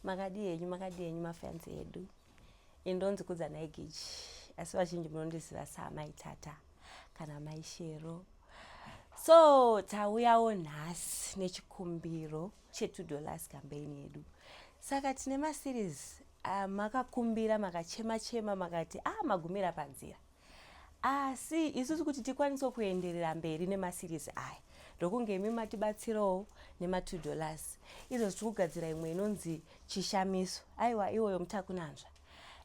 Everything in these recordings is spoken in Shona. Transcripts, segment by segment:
makadii henyu makadii henyu mafans edu ini ndonzi kudza nhai gichi asi vazhinji munondiziva saamai tata kana amai shero so tauyawo nhasi nechikumbiro chetu dollars campaign yedu saka tine maseries ah, makakumbira makachema chema makati ah magumira panzira asi isusu kuti tikwanise kuenderera mberi nemaseries aya ndokunge imi matibatsirawo nematwo dollars izvo zvichi kugadzira imwe inonzi chishamiso aiwa iwoyo mutakunanzva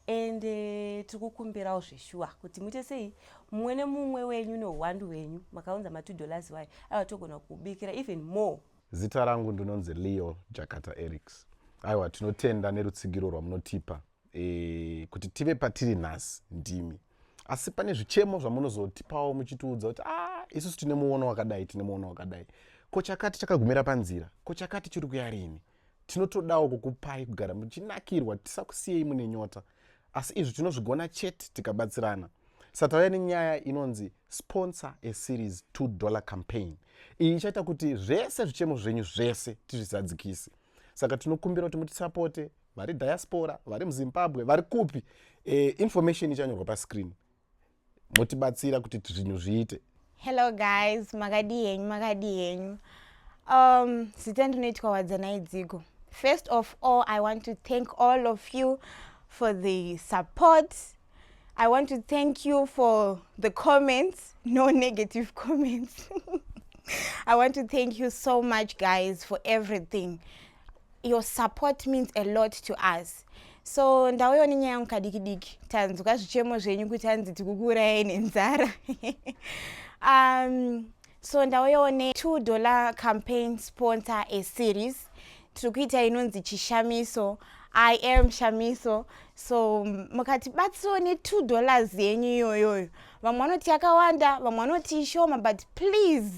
and eh, tiri kukumbirawo zveshuwa kuti muite sei mumwe nemumwe wenyu neuhwandu hwenyu makaunza matwo dollars wayo aiwa togona kubikira even more zita rangu ndinonzi leo jakata erics aiwa tinotenda nerutsigiro rwamunotipa e, kuti tive patiri nhasi ndimi asi pane zvichemo zvamunozotipawo muchitiudza kuti ah, isusu tine muono wakadai tine muono wakadai ko chakati chakagumira panzira ko chakati chiri kuya rini tinotodawo kukupai kugara muchinakirwa tisakusiyei mune nyota asi izvi tinozvigona chete tikabatsirana satauya nenyaya inonzi sponsor a series 2 dollar campaign iyi ichaita kuti zvese zvichemo zvenyu zvese tizvizadzikise saka tinokumbira kuti mutisapote vari diaspora vari muzimbabwe vari kupi e, information ichanyorwa pascreen motibatsira kuti zvinhu zviite hello guys makadii henyu makadii henyu um, zita ndinoitwa wadzanai dzigo first of all i want to thank all of you for the support i want to thank you for the comments no negative comments i want to thank you so much guys for everything your support means a lot to us so ndauyo nenyaya yangu kadiki diki tanzwa zvichemo zvenyu kuti hanzi tikukuurayai nenzara um, so ndauyawo ne two dollar campaign sponsor a series tiri kuita inonzi chishamiso i am shamiso so mukatibatsirawo ne two dollars yenyu iyoyoyo vamwe vanoti yakawanda vamwe vanoti ishoma but please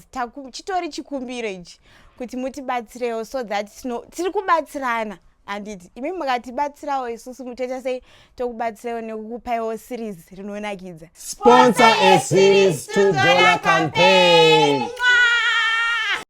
chitori chikumbiro ichi kuti mutibatsirewo so that tiri kubatsirana handiti imi mukatibatsirawo isusu mutoita sei tokubatsirawo nekukupaiwo series rinonakidza sponsor a series to dollar campaign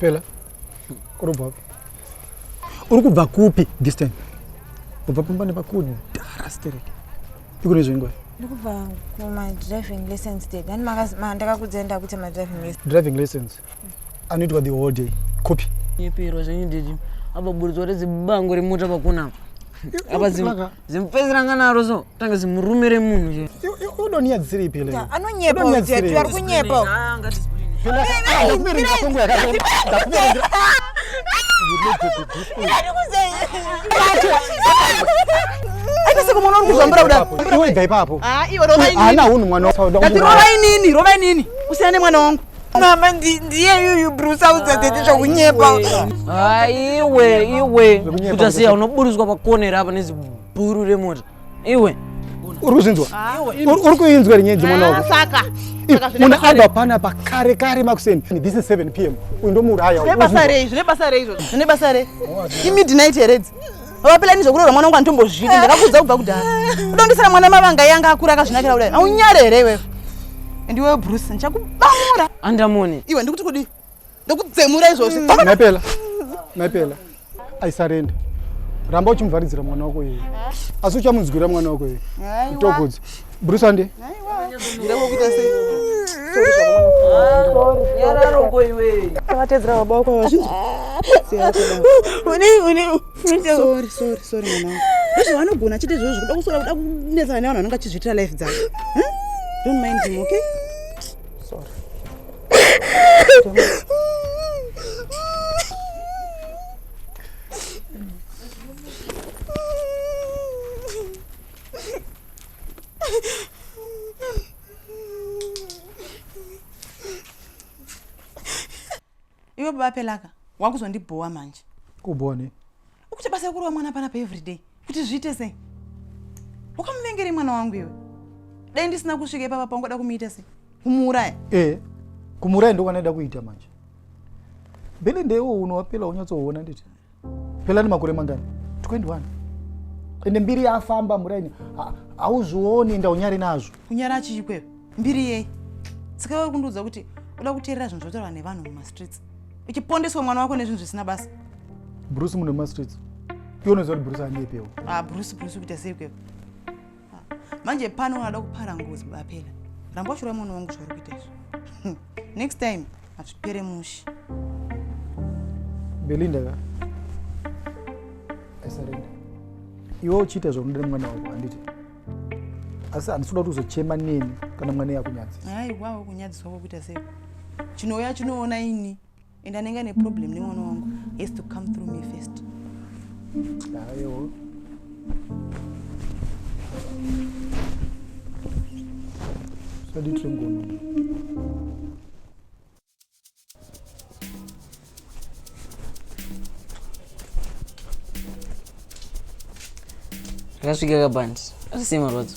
pela urubva uri kubva kupi distan ubva pamba nepakudhara stereki ikune zvengoi ndikubva kumadriving license ded ani ndakakudzenda kuti madriving license driving license anoitwa the whole day copy nyepero zvenyu didi apa buridzwa rezibango remota pakunapa apa zimupesi ranga naro so tanga zimurume remunhu udoniya dzisiripi anonyepa ari kunyepa aitese kumwana uri kuzvambura kudaiiwe gaipapo ana hunhu mwana ndati rovai nini rovai nini usiyane mwana wangu mama ndiyeyuyu bruce audza tete zvekunyepa haiwe iwe kutasiya unoburitswa pakonera apa nezibhuru remota iwe uri kuzvinzwa uri kuinzwa rinyedzi mwana wako ah, munhu abva pana pakare kare makuseni this is 7 p m uyu ndomuuraya zvine basa rei zvine basa rei izvozvo zvine basa rei imidnight heredzi vapela ini zvekurora mwana wangu andimbozvidi ndakakuudza kubva kudhara udondisira mwana mavanga yanga akura akazvinakira kudai aunyare here iwewe and iwewe bruce ndichakubamura andamoni iwe ndikuti kudii ndokudzemura izvozvi maipela maipela aisarenda ramba uchimuvharidzira mwana wako iye asi uchamunzwira mwana wako iye togodza Brusande. Vatedzera baba wako vazhinji. Sorry, sorry, sorry mwana. Vazvo vanogona chete izvozvo kuda kusora kuda kunetsana nevanhu vanenge vachizviitira life dzavo. Huh? Don't mind him, okay? Sorry. iwe baba pelaka wakuzondibhowa manje kubhowa ne ukuti basa rekurova mwana panapa everyday kuti zviite sei wakamuvengere mwana wangu iwe dai ndisina kusvika ipapa paungoda kumuita sei kumuuraya e eh, kumuuraya ndokwanaida kuita manje mbele ndeiwo unowapela unyatsoona nditi pelani makore mangani 21 ende mbiri yafamba muraini hauzvioni enda unyari nazvo kunyara chiikweyo mbiri yei sika uri kundiudza kuti uda kuteerera zvinhu zvotaurwa nevanhu mumastreets uchipondeswa mwana wako nezvinhu zvisina basa bruce mune mumastreets iwe unoziva kuti bruce anyepewo ah bruce bruce kuita sei ikweyo manje pano unada kupara ngozi bapela ramba washura mwana wangu zvauri kuita izvo next time hazvipere mushi belinda ka asarenda iwe uchiita zvaunoda nemwana wako handiti asi handisi kuda kuti uzochema neni kana mwana yakunyadzisa aiwawo kunyadziswa kwakuita sei chinouya chinoona ini and anenge ane problem nemwana wangu has to come through me first ayo sadi tringono rakasvika kabandi asisei marwadzo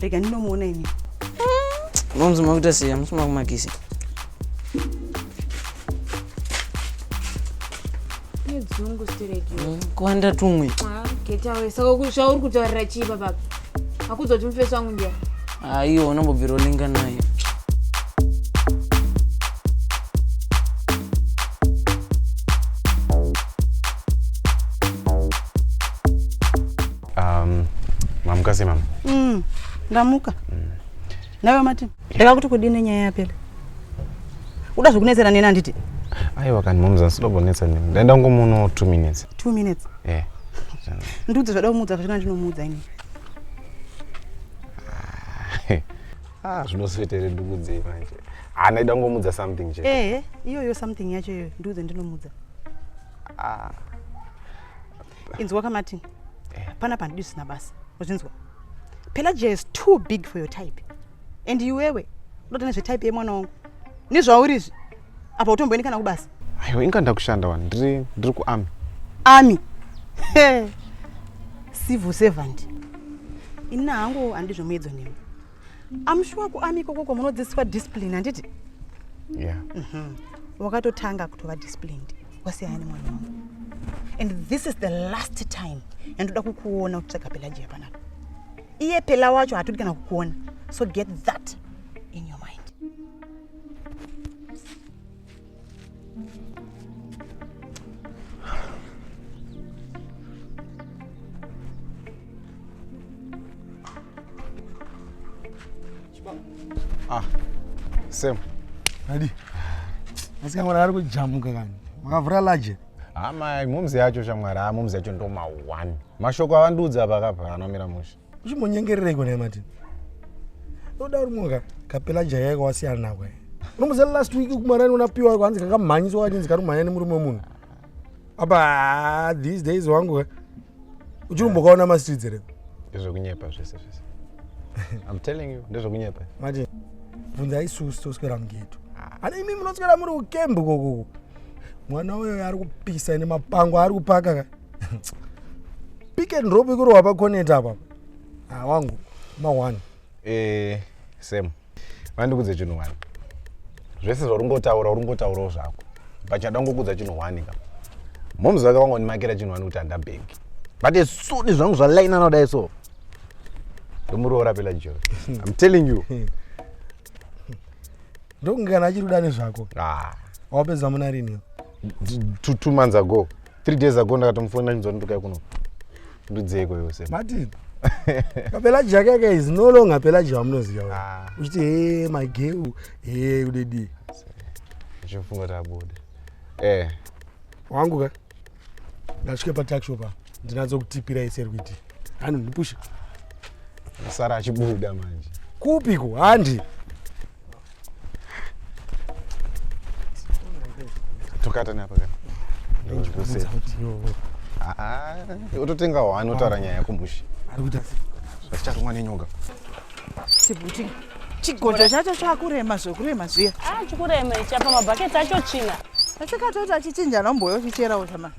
rega ndinomuona ini unonzi makuita sei amusi makumakisi nedzungu stereki hmm, kuwanda tumwe ah, getawe saka zvauri kutaurira chii papapa akuudza kuti mufesi wangu ndiya aiwa ah, unambobvira olinga naye Um, mamuka sei mama? Mm, ndamuka. Mm. Nawe mati? Ndaka kuti kudini nyaya yapera? Uda zvekunetsera neni anditi? Aiwa kani moms asida kunetsa neni. Ndaenda ngomuno 2 minutes. 2 minutes? Eh. Yeah. Ndudze zvada kumuudza zvachona ndinomuudza ini. Ah, ah zvinosvetere ndikudzei manje. Ah, ndaida ngomuudza something chete. Eh, iyoyo something yacho iyoyo ndudze ndinomuudza. Ah. inzwa ka martin eh. pana pandidi usina basa uzvinzwa pelagia is too big for your type and iwewe unotoona zvetype yemwana wangu nezvaurizvi apa utomboendi kana kubasa aiwa inga ndakushanda wani ndiri ndiri kuami ami civil servant ini hangu handizvomuedzo newe amushuwa kuami ikoko kwamunodzidziswa discipline handiti yeah. mm -hmm. wakatotanga kutova disciplined wasiyana nemwana wangu and this is the last time yandoda kukuona uchitsvaga pelaji yapanapa iye pela wacho hatodi kana kukuona so get that in your mind Ah, same. Adi. Asi kamwana ari kujamuka kani. Makavhura large. Hama ah, momzi yacho shamwari, ah momzi yacho ndo ma one. Mashoko avandiudza apa kapa anomira musha. uchimonyengerereiko naye martin unoda uri munhu kapela jaya yako wasiyana nako unomuziva last week kumarani unapiwa yako hanzi kakamhanyiswa kachinzi kari kumhanya nemurume wemunhu apa ah, these days wangu eh? uchirumbokaona mastreets here ndezvekunyepa zvese zvese im telling you ndezvekunyepa martin bvunza isusu toswera mugeto ana imi munoswera muri kukembu kokoko mwana uyo ari kupisa nemapango ari kupaka ka pick and drop ikuri wapa connect apa ah wangu ma one eh same vandikudze chinhu one zvese zvaungotaura ungotaurawo zvako pachada ngokudza chinhu one ka momzi vake vangondimakira chinhu one kuti handabhengi but as soon zvangu zvalainana kudai so ndomuroora pela jori im telling you ndokunge kana achiri kuda nezvako ah. wapedza muna rini two months ago 3 days ago ndakatomufonera chinzwa ndokai kuno ndudzeiko yose martin kapelaji yake yake is no longer pelaji wamunoziva ah. uchiti he my girl he udedi uchifunga kuti abude eh wangu ka ndasvike pataxi opa ndinatso kutipira ese rikuitii anondipusha asara achibuda manje kupi ko handi tokata neapa kana ndikuziva kuti yo Ah, ah, utotenga wani otaura nyaya yako mushi ari kuita sei? zvatichatumwa nenyoka Chibuti. Chigodha chacho chakurema zvekurema zviya. Ah, chikurema ichi apa mabhaketi acho china. Asikatoti achichinja nomboyo chicherawo zvama.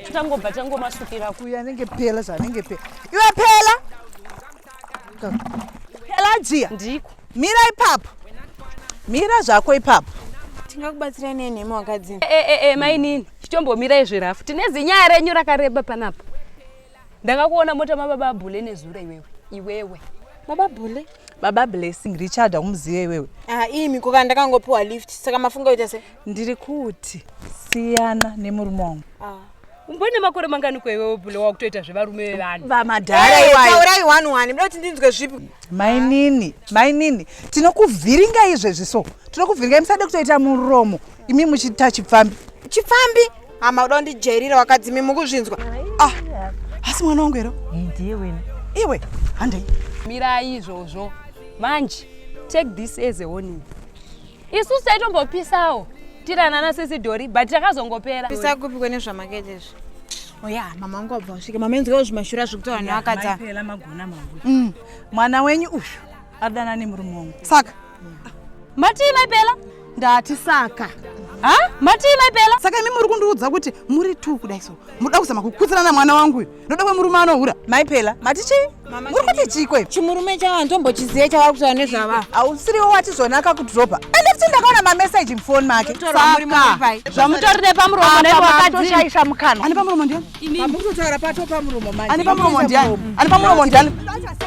chitangobva changomasukira kuya anenge pela zvanenge pela iwe pela pela jiya ndiko mira ipapo mira zvako ipapo tingakubatsirai nei nhemi wakadzi e, e, e, e, mainini chitombomirai zvirafu tine zinyaya renyu rakareba panapa ndakakuona mota mababa abhule nezuro iwewe iwewe baba bhule baba blessing richard akumuziva iwewe ah, imi kuka ndakangopiwa lift saka mafunga kuita se ndiri kuti siyana nemurume wangu ah. umbone makore mangani kweiwewo bule wakutoita zvevarume vevanhu vamadhara eh, iwayotaurai one one mda kuti ndinzwe zvipi mainini mainini tinokuvhiringa izvezvi so tinokuvhiringa musade kutoita muromo imi muchiita chipfambi chipfambi hama uda kundijairira wakadzimi mukuzvinzwa ah, asi mwana wangu here ndiye wena iwe handei mirai izvozvo manje take this as a warning isusu taitombopisawo tiranana na sisi dori but takazongopera pisa kupi kwene zvamakete izvi oya oh, mama wangu wabva wasvika mama enzikawo zvimashura zvekuti vanhu vakadza magona mangu mm. mwana wenyu uyu adana nemurume wangu saka matii maipela ndati saka ha matii maipela saka imi muri kundiudza kuti muri two kudai so muda kuzama kukudzana na mwana wangu uyu ndoda kwemurume anohura mai pela mati chii muri kuti chikwe chimurume chavo handitombochizive chavari kutaura nezvava hausiriwo wati zvona akakudropa ende futi ndakaona mameseji mufoni make zvamutori nepamuromo newakadishaisha mukanwa ane pamuromo ndiani ane pamuromo ndiani ane pamuromo ndiani Sorry,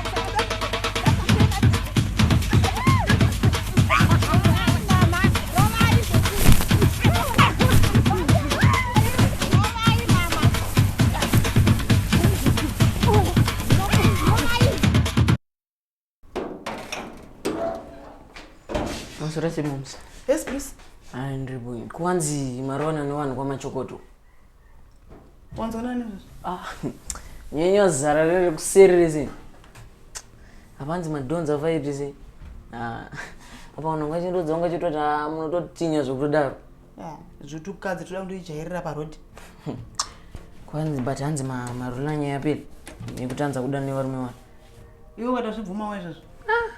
Mumsa. Yes, please. Andri boy. Kwanzi marona no vanhu kwamachokoto. Wanzwa nani izvozvo? Ah, nyenya zara riri kuseri rese. Hapanzi madhonza afai rese. Ah, apa vanhu vangachindodza vangachitoti ah, munototinya zvekutodaro. Yeah, zvotukadzi toda kundoijairira parodi. Kwanzi but hanzi ma- marula nyaya yapera nekutanza kuda nevarume vana. Iwe wada zvibvumawo izvozvo.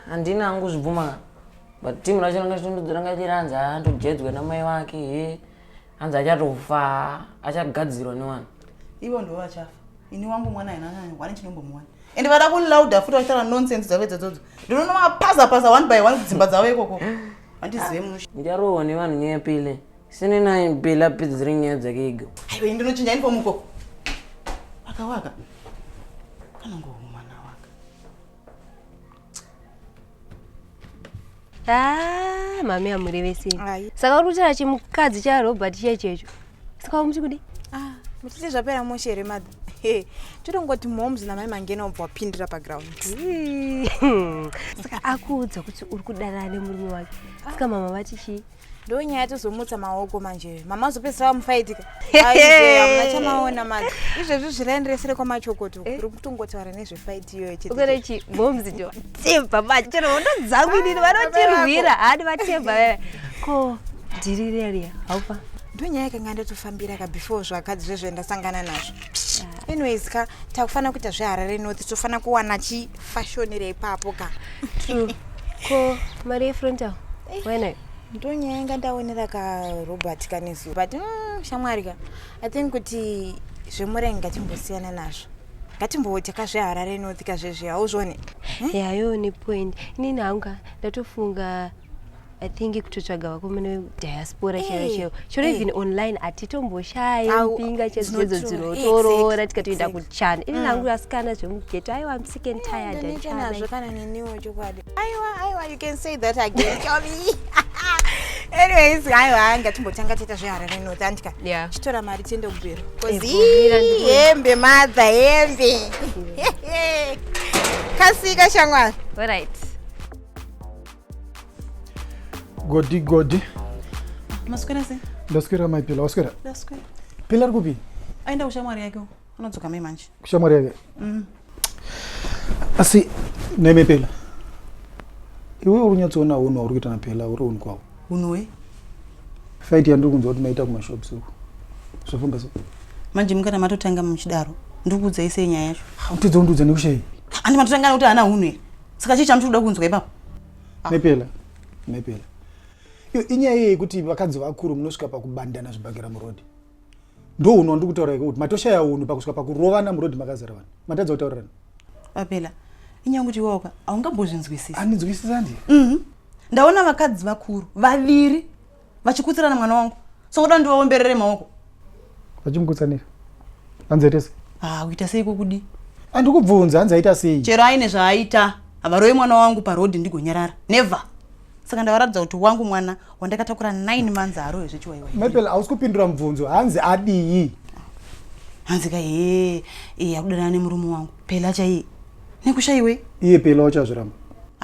Handina hangu zvibvuma kana. But timu racho ranga chitondodza ranga chiranzi ah ndojedzwa namai vake he. hanzi achatofa achagadzirwa newani ivo ndivo vachafa ini wangu mwana hainanani wani chinombomuwana and vada kulauda futi vachitaura nonsense dzavo idzodzodzo ndinonomapaza paza one by one kudzimba dzavo ikoko vandizive musha ndicharohwa nevanhu nyaya pile sine naye pile apedzere nyaya dzake igo aiwa ini ndinochinja ini pomukoko waka waka anongohumana waka Ah, mami amuri vese. Ayi. Saka uri kutaura chimukadzi cha Robert chiya checho. Saka uri muchikudi? Ah, muchiti zvapera mushe here mother? Hey, totongoti moms namai mangena ubva wapindira paground. Saka akuudza kuti uri kudanana nemurume wake. Saka mama vati chii? ndonyaya tozomutsa maoko manje mama azopedzisa vamufaitika amuna chamaona mati izvezvi zviraenderesere kwamachokoto eh? uri kutongotaura nezvefaiti iyoyo cheurechi bombs jo temba manje chero hondo dzangu inini vanotirwira hadi vatemba veve ko dhiri reria haupa ndonyaya yakanga ndatofambira ka before zvakadzi zvezvo ndasangana nazvo Ah. anyways ka takufanira kuita zveharare north tofanira kuwana chifashonere ipapo ka true ko mari yefrontal wainayo ndonyaya inga ndaonera ka robert kanesu but mm, shamwari ka i think kuti zvemurengi ngatimbosiyana nazvo ngatimboita ka zveharare north ka zvezve hauzvione yayo nepoint inini hangu ka ndatofunga I think kutotsvaga vako mune diaspora eh, chero chero chero eh. even online atitomboshai mpinga chezvedzo dzinotoroora tikatoenda kuchana ini nangu ah. asikana zvemugeto aiwa am sick and eh, tired anazvo kana neniwo chokwadi aiwa aiwa you can say that again chomi anyways aiwa hanga timbotanga tiita zveharare north andika chitora mari tiende kubhero hembe madha hembe kasika shamwari alright Godi godi. Maswera se? Ndaswera mai Pila, waswera? Ndaswera. Pila ari kupi? Aenda kushamwari yake, anodzoka mai manje. Kushamwari yake? Mm. Asi neme Pila. Iwe uri nyatsoona unhu wauri kuita na Pila uri unhu kwavo. Unhu we? Fight yandiri kunzwa kuti maita kumashops uko. Zvafamba so. Manje mukana matotanga muchidaro. Ndikuudzai sei nyaya yacho? Hautidza undiudza nekushei? Andi matotanga nekuti ana unhu here? saka chii chamuti kuda kunzwa ipapo ah. nepela nepela iyo inyaya iye yekuti vakadzi vakuru munosvika pakubandana zvibhakera murodi ndo unhu wandiri kutaura iko kuti matoshaya unhu pakusvika pakurovana murodi makazara vanhu matadza kutaurirana apela inyaya kuti iwaoka haungambozvinzwisisi andinzwisisandi mhm. ndaona vakadzi vakuru vaviri vachikutsirana mwana wangu so ngoda ndivaomberere maoko vachimukutsanira hanzi aita sei ah uita sei kokudi handi kubvunza hanzi aita sei chero aine zvaaita havaroye mwana wangu parodi ndigonyarara never saka ndavaratidza kuti wangu mwana wandakatakura 9 months haaroye zvechiwaiwai mapel hausi kupindura mubvunzo hanzi adii hanzi ka hee ee akudanana nemurume wangu pela chaiye nekushaiwei iye pela wacho azviramba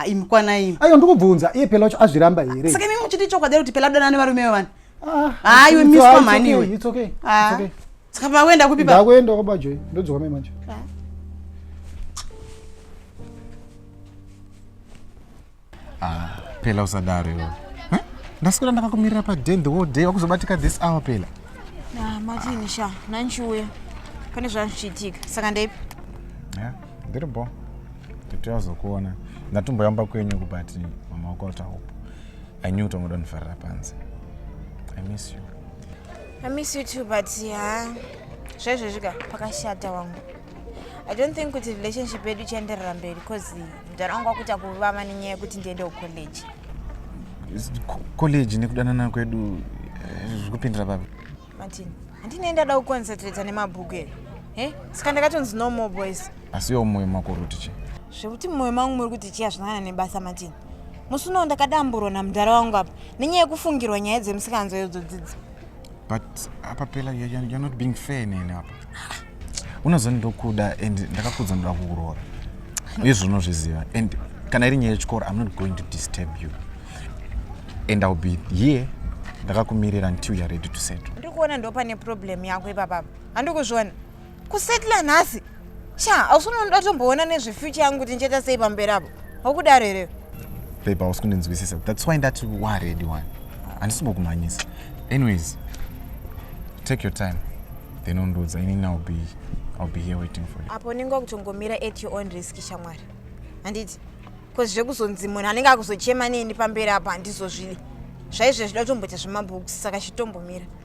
imkwanaimi aiwa ndikubvunza iye pela wacho azviramba here saka imi muchiti chokwadi kuti pela danana nevarume vevani ah, haiwe miswa mhani iwe ah. saka pakuenda kupi pakuenda kwabajoi ndodzoka mai manje ah. Ah, Pela usadaro iwe. Huh? Ndaswera ndakakumirira pa den the whole day wakuzobatika this hour Pela. Ah, Martin sha, nanchiuya. Pane zvanzvichiitika. Saka ndeipi? Yeah, ndiri bo. Totouya kuzokuona. Ndatomboyamba kwenyu kubati mama wako wata hope. I knew kuti ungoda kunifarira panze. I miss you. I miss you too but ha. Zvaizvezvi ka pakashata wangu. i don't think kuti relationship yedu ichaenderera mberi because mudhara wangu wakuita kuvava nenyaya yekuti ndiende kucollege college nekudanana kwedu eh, zvikupindira baba martin handinei ndada kuconcentrata nemabhuku ere e saka ndakatonzi no more boys asi yo mwoyo mako uri kuti chii zvekuti mwoyo mangu muri kuti chii hazvinana nebasa martin musi unowo ndakadamburwa namudhara wangu apa nenyaya yekufungirwa nyaya dzemusikanzo yodzo dzidzi but apa pela you're, you're not being fair nene apa unozoni ndokuda and ndakakudza ndoda kukuroora izvo unozviziva and kana iri nyaya yechikoro i'm not going to disturb you and ill be here ndakakumirira until you're ready to settle ndikuona ndopane problem yako ipapapa handikuzviona kusetla nhasi sha hausi unonoda kutomboona nezvefuture yangu kuti ndichaita sei pamberi apo haukudaro here babe hausi kundinzwisisa thats why ndati waredi wani handisibokumhanyisa anyways take your time then undiudza ini now be i'll be here waiting for you apo unenge wakutongomira at your own risk shamwari handiti bcause zvekuzonzi munhu anenge akuzochema neni pamberi apo handizozvidi zvaizve zvida kutomboita zvemabooks saka chitombomira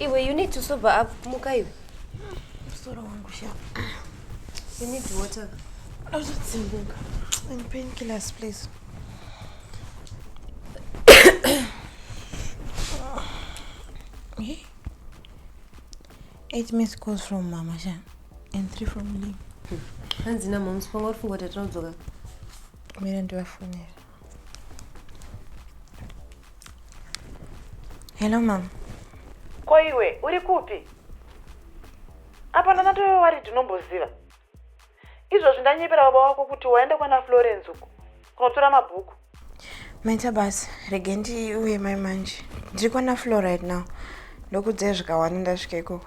Iwe you need to sober up muka iwe. Musoro wangu sha. You need water. Azvitsimbuka. And painkillers please. hey. Eight missed calls from Mama Sha and three from Lee. Hanzi na mom sponga uri funga kuti tinozoka. Mira ndivafonera. Hello mom. Ko iwe uri kupi? Apa ndana tove wari tinomboziva. Izvozvi ndanyepera baba wako kuti waenda kwana Florence uko kunotora mabhuku. Maita basa, rege ndiuye mai manje. Ndiri kwana Flo right now. Ndokudzai zvikawanda ndasvika ikoko.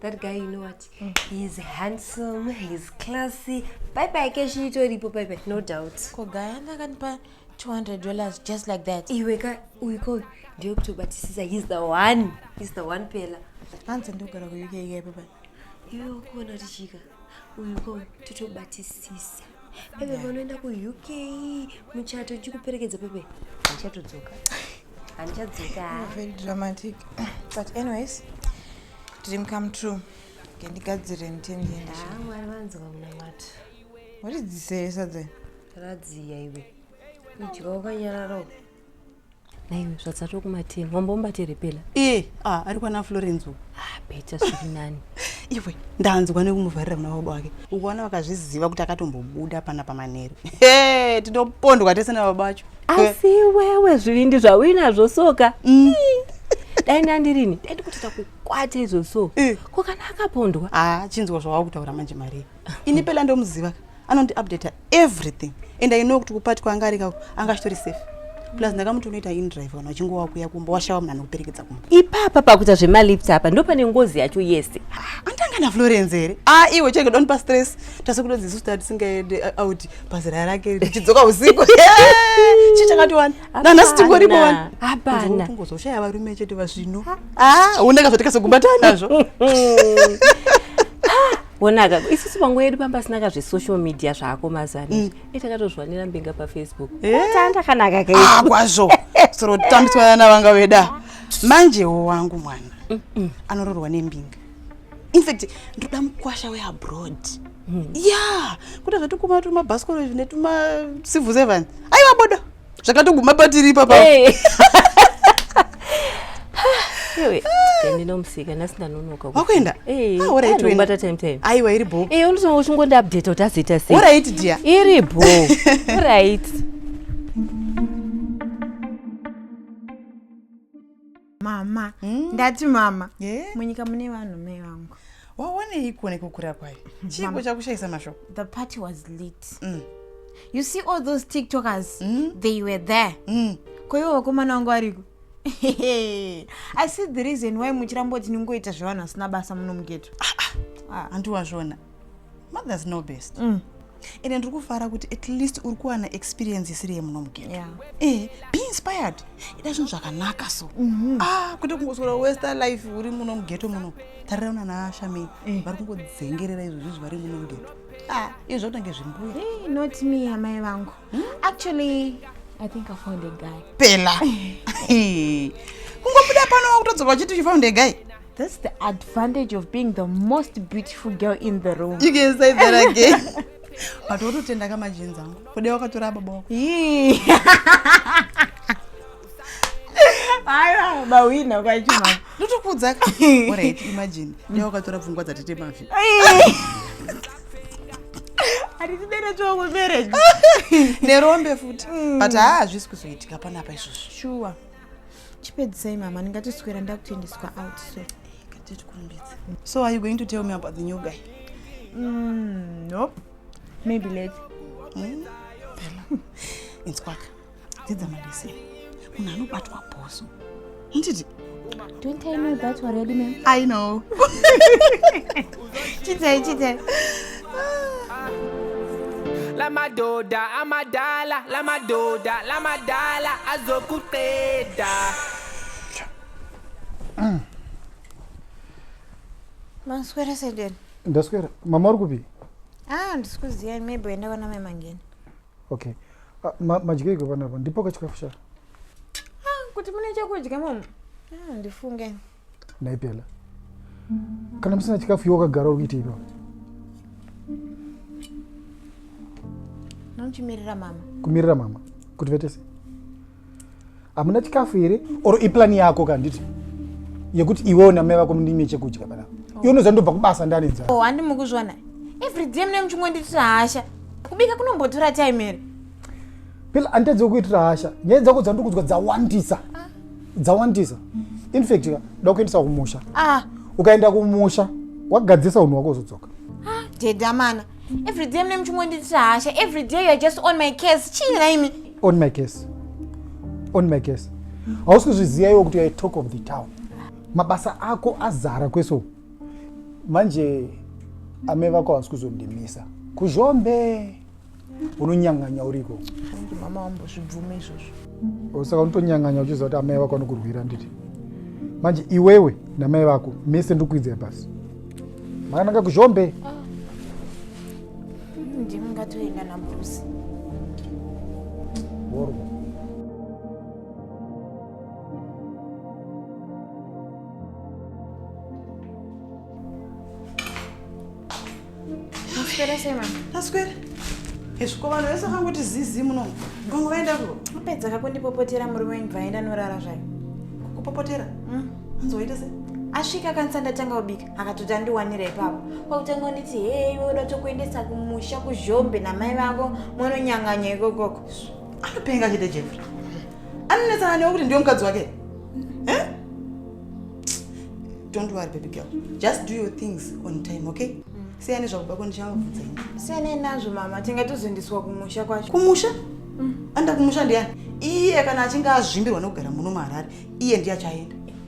that guy you know what mm. he's handsome he's classy bye bye keshi itoripo bye bye no doubt ko guy anga akanipa 200 dollars just like that iwe ka uyu ko ndiyo kutobatisisa he's the one he's the one pela hanzi ndogara kuuk ikaipa pai iwe ukuona kuti chika uyuko totobatisisa peve vanoenda kuuk muchato chikuperekedza peve hanchatodzoka handichadzoka very dramatic but anyways dream come true ngendigadzire nditendienda ah, mwari vanzwa munamato watidziseyesa dze radziya iwe idya wakanyararo naiwe zvadzatwa kumatini wambombati repela e ah, ari kwana florence u ah, beta zviri nani iwe ndanzwa nekumuvharira muna baba wake ukuona vakazviziva kuti akatombobuda pana pamanheru e tinopondwa tese nababa vacho asi wewe zvivindi zvauinazvo soka mm. dai ndandirini dai ndikuti takukwata izvo so e. ko kana akapondwa a ah, chinzwa zvawakutaura manje marii ini pela ndomuziva ka anondiupdata everything and i know kuti kupati kwaanga arika anga achitori safe plus ndakamuti unoita indrive kana uchingowa kuya kumba washawa munhu anokuperekedza kumba ipapa pakuita zvemalift apa ndo pane ngozi yacho yese ah, andanga naflorence here a ah, iwe chenge don't pa stress tase kuto dzisu ta tisingaende uh, out pazira rake richidzoka usiku chi chakatiwana nanhasi tingoripo wani hapana ungozoshaya varume chete vazvino a ah, undanga zvatikazogumbatana nazvo wonaka isusu panguva yedu pamba sina kazve social media zvako mazana mm. e takatozviwanira mbinga pafacebook eh? tanda kanaka ah, kwazvo soro tambiswa vana vanga veda manjewo wangu mwana mm, mm. anororwa nembinga infact ndoda mukwasha weabroad mm. ya kuda zvatikuma tuma bhasikoro izvi netuma civil servant aiwa bodo zvakatoguma patiri ipapa ndinomusika nhasi ndanonoka wakuenda auraiobata time time aiwa iri bho e unotonga uchingondi update kuti azoita sei orit dia iri bho orit mama mm. ndati mama yeah. munyika mune vanhu mai vangu waonei kuone kukura kwayo chiiko chakushaisa mashoko the party was lit mm. you see all those tiktokers mm. they were there mm. koivo vakomana vangu variko i see the reason why muchiramboti ningoita zvevanhu vasina basa muno mugeto ah, ah. ah. andiwazvona mothers no best mm. ende ndiri kufara kuti at least uri kuwana experience isiri yemuno mugeto yeah. eh, be inspired ida zvinhu zvakanaka so mm -hmm. ah, kwete kungosora wester life uri muno mugeto muno tarira una naashamei eh. vari kungodzengerera izvo zvizvi vari muno mugeto ah, izvo zvakutange zvimbuya hey, eh, not me amai vangu hmm? actually i think i found a guy pela kungobuda pano wakutodzoka uchiti you found a guy That's the advantage of being the most beautiful girl in the room. You can say that again. but wototenda ka majenzi angu kude wakatora baba wako aiwa mawina kwachima ndotokuudza ka orit imagine de wakatora pfungwa dzatete mafi hatitibere chongo marriage nerombe futi mm. but haa hazvisi kuzoitika panapa izvozvo shuwa chipedzisai mama ndingatiswera ndakutoendeswa out so so are you going to tell me about the new guy mm, nope maybe late mm? inzwaka dzidza malese munhu anobatwa bhoso nditi Don't I know that already, ma'am? I know. Chitei, chitei. lamadoda amadala lamadoda lamadala azokuqeda Maswera sedeni. ndaswera mama uri kupi Ah, ndisikuziya maybe uenda kwana mai mangeni. okay ah, ma, madyeiko panapo ndipo kachikafu sha ah, kuti mune chekudya mama ah, ndifunge ndaipela kana musina chikafu iwe wakagara uri kuita ipapo nochimirira mama kumirira mama kuti vetese hamuna chikafu here or iplani yako kanditi yekuti iwewo namai vako mundime chekudya panapa oh. iwe unoziva ndobva kubasa ndanedza oh, handi mukuzviona everyday mune muchingonditira hasha kubika kunombotora time here pila handitadzi wekuitira hasha nyaya dzako dzandiri kudzwa dzawandisa ah. dzawandisa infact ka da kuendesa kumusha ah. ukaenda kumusha wagadzirisa unhu wako uzodzoka ah, dedamana everyday mune muchingonditira hasha everyday youare just on my case chii naimi on my case on my case hausi kuzviziva iwo kuti youare talk of the town mabasa ako azara kweso manje ame vako hausi kuzondimisa kuzhombe unonyanganya uriko mama wambozvibvume izvozvo saka unotonyanganya uchiziva kuti amai vako anokurwira nditi manje iwewe namai vako mese ndikuidzira pasi makananga kuzhombe ah. Ndimi ngatoenda na Bruce. Borgo. Maswera sei mama? Maswera. Hezviko vanhu vese vakangoti zizi muno. Gongo vaenda kuvo. Apedza kakundipopotera murume wenyu bvaenda norara zvayo. Kukupopotera? Mm. Anzi waita sei? Asvika kanisa ndatanga kubika. akatoti andiwanira ipapo kwakutanga kunditi hee iwe uda tokuendesa kumusha kuzhombe namai vako mwanonyanganya ikokoko anopenga chete jeffrey anonetsana newe kuti ndiwe mukadzi wake eh? don't worry baby girl just do your things on time okay siyane zvakuba ko ndichamabvunza ini siyanei nazvo mama tingatozoendeswa kumusha kwacho kumusha anda kumusha ndiyani iye kana achinge azvimbirwa nekugara muno muharare iye ndiye achaenda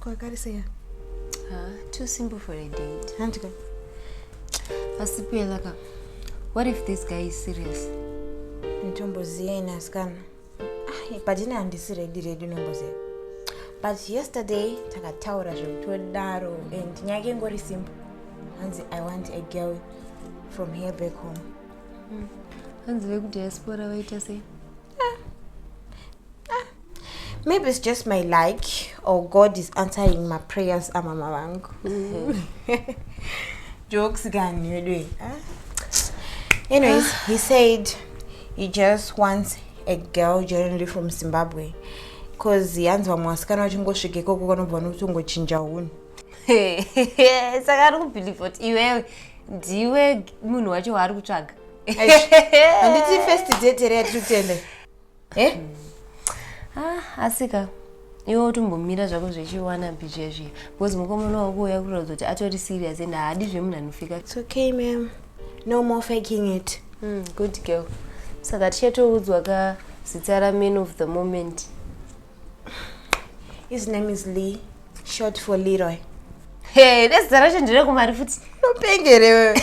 kwakariseya ah, too simple for a date handika asi pelaka what if this guy is serious nditomboziyeni asikana ah, patine handisi redi redi unomboziva but yesterday takataura zvekutodaro and nyaya ke ngori simple hanzi i want a girl from here back home hmm. hanzi vekudiaspora vaita sei maybe it's just my luck or god is answering my prayers amama vangu mm. jokes gani weduwe anyways he said he just wants a girl generally from zimbabwe bcause hanzi vamwe vasikana vachingosvika ikoko kanobva vanokuti ungochinja hunhu saka ari kubhilivha kuti iwewe ndiwe munhu wacho waari kutsvaga handiti first date here yatiri kutende eh? ah, asika iwe utombomira zvako zvechiwana bije zviya because mukomana wako uya kuratidza kuti atori serious and haadi zvemunhu anofika its okay mam no more faking it mm, good girl saka tichatoudzwa ka zita raman of the moment his name is lee short for leroy hey vezita racho ndire kumari futi unopengerewe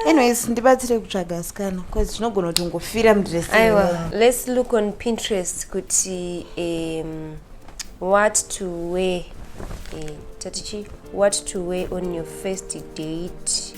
anyways ndibatsire kutsvaga asikana bcause tinogona kuti ungofira mudress aiwa let's look on pinterest kuti um, what to wear eh, tatichi what to wear on your first date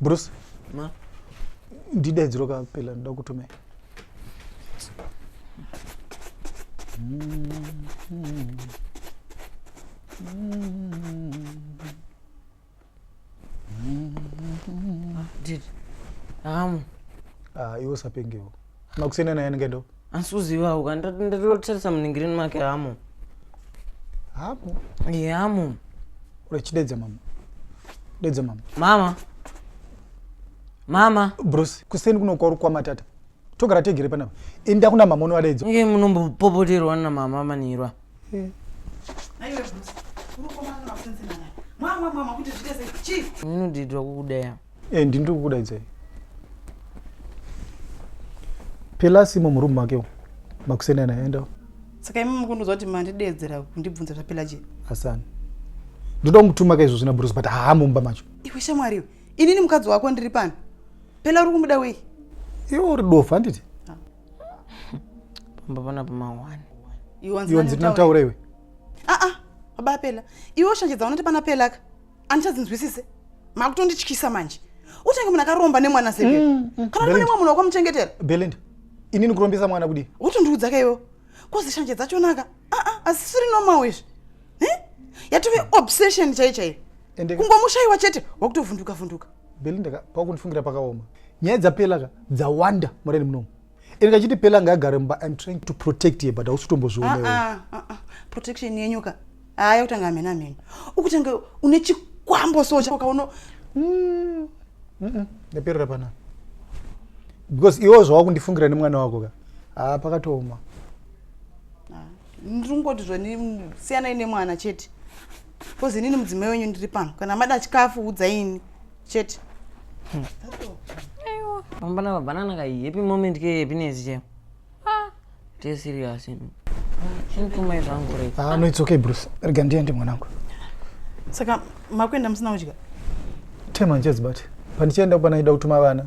Bruce. Ma. Ndidaidziro ka pela ndoda kutumai. Did. Amu. Ah, iwe usapengewo. makusiyana naye anenge ndo asi uzivawo ka ndatotarisa muningirini make hamo hamo ye hamo urachidedza mama dedza mama mama mama bruce kuseni kunokwauri kwamatata togara tegere panapa enda kuna mama unovadedzo nge munombopopoterwa namama manirwa hmm. ndinodidwa kukudaya e eh, ndini tokukudaidzai pelasi imo murumu make makuseni anaendawo saka imi mukundiudza kuti mandidedzera kundibvunza zvapela je asani ndoda kumutuma ka izvo zvina bruce but haa mumba macho iwe shamwari inini mukadzi wako ndiri pano pela uri kumuda wei iwe uri dofa handiti pambavana pamahwani iwanzi ndinataura iwe aa ah, ah, baba apela iwe oshanje dzaunati pana pelaka andichadzinzwisise makutondityisa manje utenge munhu akaromba nemwana sebe mm, mm. kana uri nemwa munhu wakamuchengetera belinda ini ndikurombesa mwana kudii wotondiudza ka iwewo kozi shanje dzachonaka aa ah, asisiri normal izvi yatove obsession chaichaiyo kungomushaiwa chete wakutovhunduka vhunduka, vhunduka. belinda ka pakundifungira pakaoma nyaya dzapela ka dzawanda mureni munomu ini kachiti pela ngaagare mumba im trying to protect ye but hausi kutombozvionewo ah, ah, ah, protection yenyu ka haa yakutanga hamheni hamheni ukutanga une chikwambo so chakaono mm, ndaperera pana because iwo zvawakundifungira nemwana wako ka haa pakatooma ndiri kungoti zvani siyanai nemwana chete Kozi inini mudzimai wenyu ndiri pano. Kana mada chikafu udzai ini. Chete. Hmm. Aiwa. Mama na banana ka happy moment ke happiness che. Ah. Tee serious. Chintumai zvangu re. Ah no it's okay Bruce. Rega ndiende mwanangu. Saka makwenda musina kudya? Tema njezi bati. Pandichienda kupana ida kutuma vana.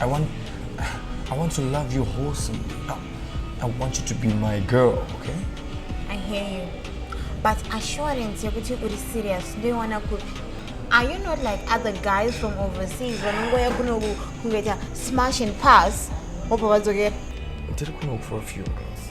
I want, I want to love you wholesome. I, I want you to be my girl, okay? I hear you. But assurance yekuti uri serious ndoiwana kupi? Are you not like other guys from overseas vanongoya kuno kungoita smash and pass wobva vadzokera? Ndiri kuno for a few days.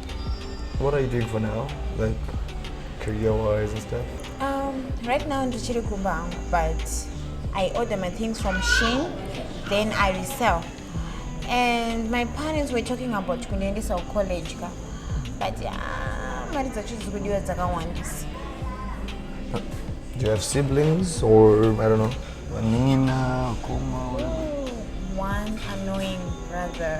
What are you doing for now? Like career wise and stuff? Um, right now ndichiri kumba hangu but I order my things from Shein then I resell. And my parents were talking about kundiendesa kucollege ka but ah, mari dzacho dziri kudiwa dzakawandisa. Do you have siblings or I don't know? Vanina, kuma, whatever. One annoying brother.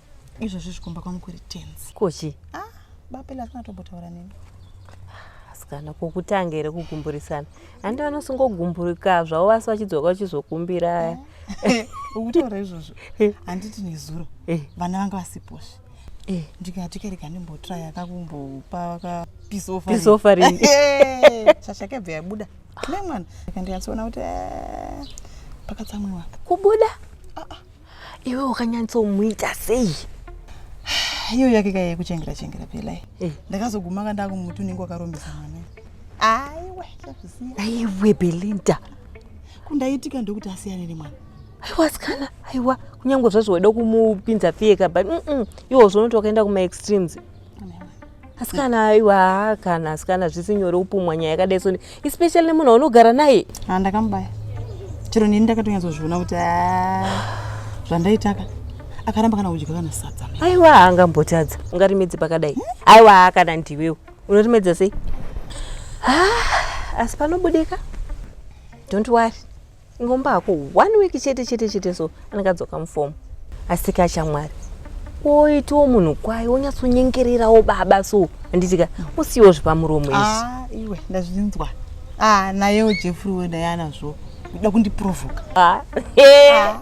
izvozvi zvikumba kwangu kuri tenzi kochi ah, bapela hazvina tombotaura neni asikana kokutanga here kugumburisana handi vanosingogumburika zvavo vasi vachidzoka vachizokumbira eh, ukutaura izvozvo eh. handiti nezuro eh. vana vanga vasiposvi ndikati kerega ndimbotraya akakumbopa kapisofarin chachakebva yabuda nemwana ndikandikatsoona kuti pakatsamwiwa kubuda ah, ah. iwe wakanyatsomuita sei iyo yake kai yekuchengera chengera pelai eh. ndakazoguma ka ndakumuti unenge wakarombesa mwana aiwe aiwe belinda kundaitika ndokuti asiyane nemwana aiwa sikana aiwa kunyange zvazvo waida kumupinza piyeka but iwo zvonoto wakaenda kumaextremes asikana aiwa kana asikana zvisi nyore kupumwa nyaya yakadai soni especially nemunhu waunogara naye ha ndakamubaya chero nini ndakatonyatsoziona kuti zvandaitaka akaramba kana kudya kana sadza aiwa haangambotadza ungarimedzi pakadai hmm? aiwa kana ndiwewo unorimedza sei asi panobudika don't worry ingomba hako one week chete chete chete so anenge adzoka mufomu asika shamwari woitiwo munhu kwaye wonyatsonyengererawo baba so handitika usiwo zvepamuromo izvi Ah, iwe ndazvinzwa ah, nayewo jeffrey we naye anazvo uda kundiprovoka Ah, eh,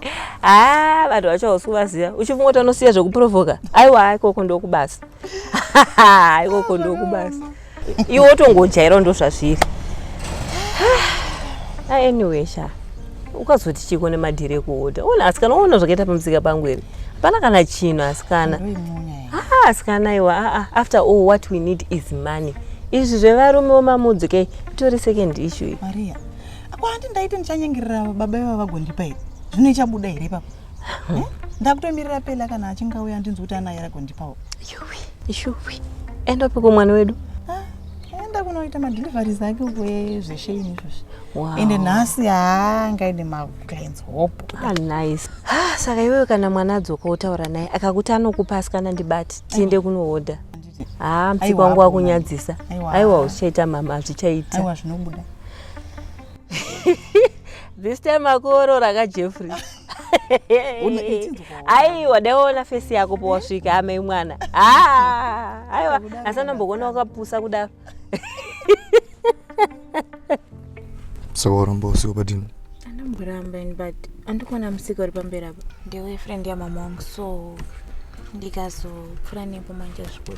ah, vanhu vacho hausi kuvaziva uchifungoti anosiya zvekuprovoka aiwa ikoko ndokubasa ikoko ndokubasa iwe wotongojaira ndozvazviri ah, anyway sha ukazoti chiko nemadhiri ekuhodha ona asikana ona zvakaita pamusika pangu here hapana kana chino asikana ah, asikana iwa ah, ah, after all what we need is money izvi zvevarume wemamudzo ke itori second issue iyi maria ako handi ndaiti ndichanyengerera baba iva vagondipa here zvino ichabuda here ipapo huh? ndakutomirira pela kana achinge auya ndinzi kuti anaye ragondipawo yuwi yuwi enda piko mwana wedu ah, enda kunoita madeliveries ake uko zveshe ini izvozvi wow. ende nhasi haa ngaende maclins hope ah, nice ah, saka iwewe kana mwana adzoka wotaura naye akakuti anokupa asikana ndibati tiende kunohodha haa ah, msiku wangu wakunyadzisa aiwa uchaita mama hazvichaita aiwa zvinobuda this time akuorora ka jeffrey aiwa daiona fesi yako powasvika amai mwana ah, aiwa asi anombokuona wakapusa kudaro so waramba usiku padini andamboramba in but andikuona musika uri pamberi apa ndiwe friend yamama wangu so ndikazopfura nepo manje zvikuru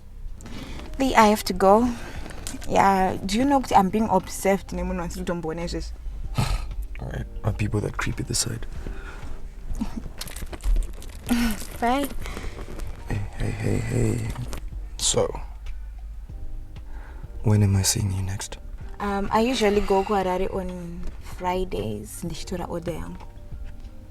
Lee, I have to go. Yeah, do you know that I'm being observed nemunhu wasiri kutomboona izvezvi? Alright, are people that creepy this side? Bye. Hey, hey, hey, hey. So, when am I seeing you next? Um, I usually go to Harare on Fridays ndichitora order yangu.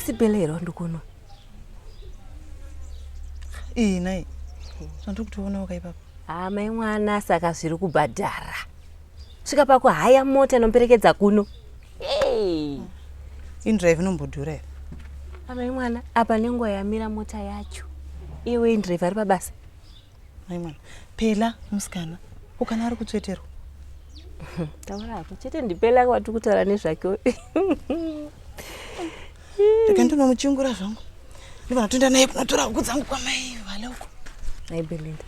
asi bele here wandikunwa iyi nai zvandiri kutoona wakaipapo haa mai mwana saka zviri kubhadhara svika pakuhaya mota inoperekedza kuno hey. indrive inombodhura here amai mwana apa nenguva yamira mota yacho iwe indrive ari pabasa mai mwana pela musikana ukana ari kutsveterwa taura hako chete ndipela kwatiri kutaura nezvake rega ndinomuchingura zvangu ndivana toenda naye kunotora huku dzangu kwamai vale uko nai belinda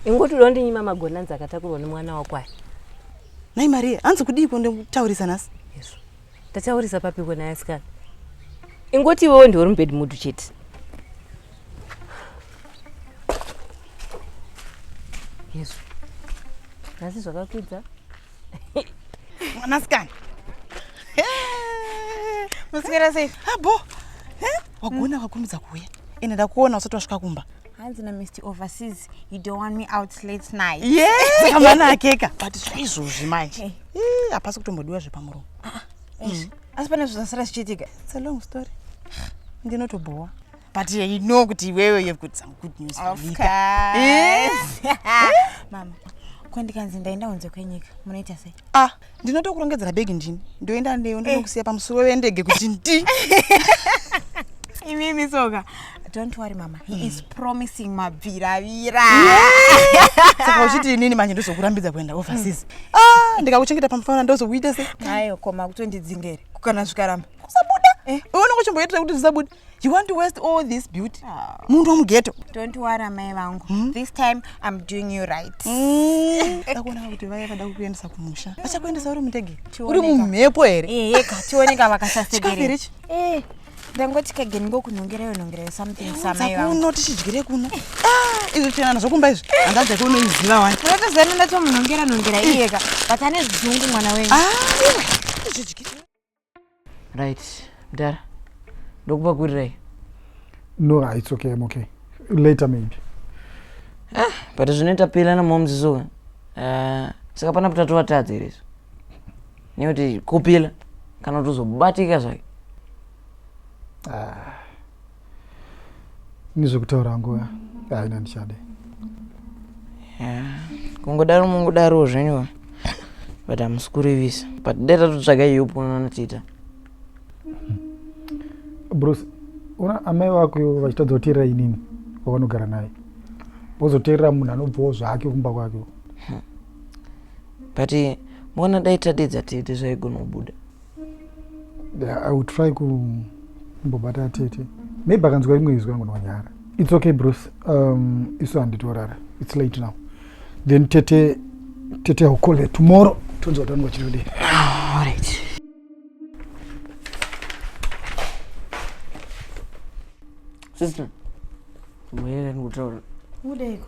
ingoti uda kundinyima magonanzi akatakurwa nemwana wako aya nai maria hanzi kudiiko ndikutaurisa nhasi yesu ndataurisa papiko naye asikana ingoti iwewo ndiwe uri mubed mudu chete yesu nhasi zvakakwidza mwanasikana muswera sei abo ah, eh? wagona wakurumidza kuuya ende ndakuona usati wasvika kumba hanzi na mr overseas you don't want me out late night yes amana akeka but zvaizvozvi manje eh. Eh, hapasi kutombodiwa zvepamuromo ah, ah, mm. asi pane zvazasara zvichiitika it's a long story ndinotobhowa but uh, you know kuti iwewe you've got some good news for Lika. Eh? mama ko ndikanzi ndaenda kunze kwenyika munoita sei ah ndinotokurongedzera bhegi ndini ndoenda neyo ndinokusiya eh. pamusoro wendege kuti ndi imimi soka don't worry mama he mm. is promising mabviravira saka uchiti inini manje ndozokurambidza kuenda overseas mm. ah ndikakuchengeta pamufanana ndozokuita se ayo koma kutondidzingere kukana zvikaramba kusabuda eh. unongochimboitira kuti zvisabude You want to waste all this beauty? Ah. Munhu wamughetto. Don't worry amai vangu. Hmm? This time I'm doing you right. Hmm. Ndakuona kuti vaya vada kukuendesa kumusha. Vachakuendesa uri mutege. Uri mumhepo here? Eh, yeka tioneka vakasasekerera. Eh. ndangoti kageni ngokunhongerayo nhongerayo something samakuno tichidyire kuno ah, izvi chenana zvokumba izvi handaja kunoiziva wani unotozana ndatomunhongera nhongera iyeka but ane zungu mwana wenyu ah, right mdara ndokupakurirei no ah, it's okay i'm okay later maybe ah, but zvinoita pela namomziso uh, ah, saka pana kuti atovatadza here izvo nekuti kupila kana kuti uzobatika zvake ah. ini zvekutaura hangu eh, haina ndichade kungodaro mungodarowo zvenyuwa but hamusi kurevisa but dai tatotsvaga iyo ponana tiita bruce una amai vako vachitadza kuteerera inini wavanogara naye wozoteerera munhu anobvawo zvake kumba kwake but mona dai tadedza tete zvaigona kubuda I will try kumbobata tete maybe akanzwa rimwe izwi angu nonyara it's okay bruce um, isu handitorara it's late now then tete tete will call her tomorrow tonzwa kuti anonga chitodii ah, right. sister mweerani kutaura udeiko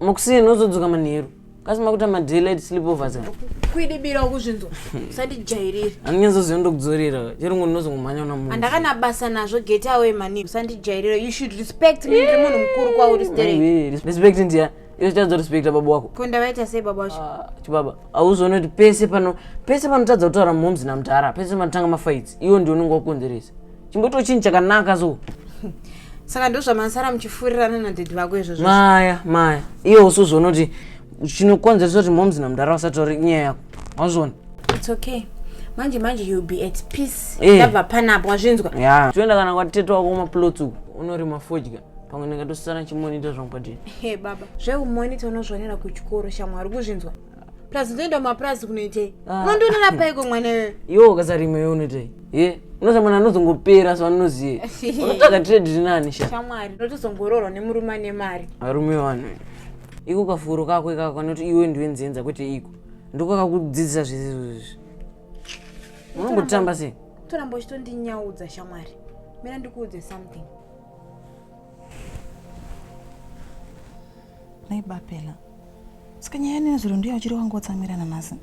makuseni ozodzoka manheru kasi makuita madelayed sleepovers ka kwidibira ukuzvinzwa usandijairire anonyatsoziva ndokudzorera chero ngo ndinozongomhanya una munhu andakana basa nazvo get away mani usandijairire you should respect me ndiri munhu mukuru kwauri sterek Aiwe, res- respect ndiya iwe chitadza respecta baba wako ko ndavaita sei baba wacho Ah, chibaba auzoona kuti pese pano pese panotadza kutaura momzi namdhara pese panotanga mafights iwo ndio unenge wakukonzeresa chimbotiwo chinhu chakanaka so saka ndozvamasara muchifurirana nadhedhi vako izvozvo maya maya iye usu zvonoti chinokonzeresa kuti moms namudhara vasatauri nyaya yako wazviona its okay manje manje youll be at peace Eh. ndabva panapo wazvinzwa ya toenda kana kwatete wako kumaplots uku unorima fodya pamwe ndingatosisana chimonita zvangu padini Hey, baba zveumonita unozvionera kuchikoro shamwari kuzvinzwa plus unoenda mumapurazi kunoitei ah. unondionera paiko mwana iwe iwo ukasarimwe iwe unoitei ye unosa mwana anozongopera so anoziye unotsvaga trade rinani sha shamwari unotozongororwa nemurume ane mari arume wani iko kafuro kako ikako kanoti iwe ndiwe nzenza kwete iko ndiko kakudzidzisa zvese izvozvi unongotamba sei toramba uchitondinyaudza shamwari mira ndikuudze something Mai Bapela, saka nyaya ino nezuro ndiyo uchiri wangotsamira nanhasi?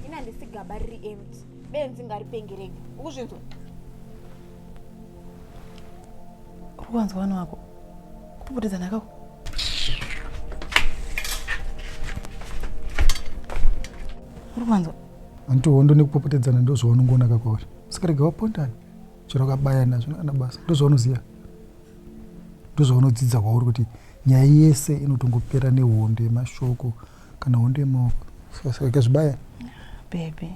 Ini handisi gaba riri empty, benzi ngaripenge rega. Ukuzvinzwa? Uri kuwanzwa vana wako kupotedzana kako? Uri kuwanzwa? Hanti hondo nekupopotedzana ndozvaunongoona kakwauri. Saka rega wapondana. chero kabaya nazvo kana basa ndozvaunoziva ndozvaunodzidza kwauri kuti nyaya yese inotongopera nehondo yemashoko kana hondo yemaoko ikazvibaya bebe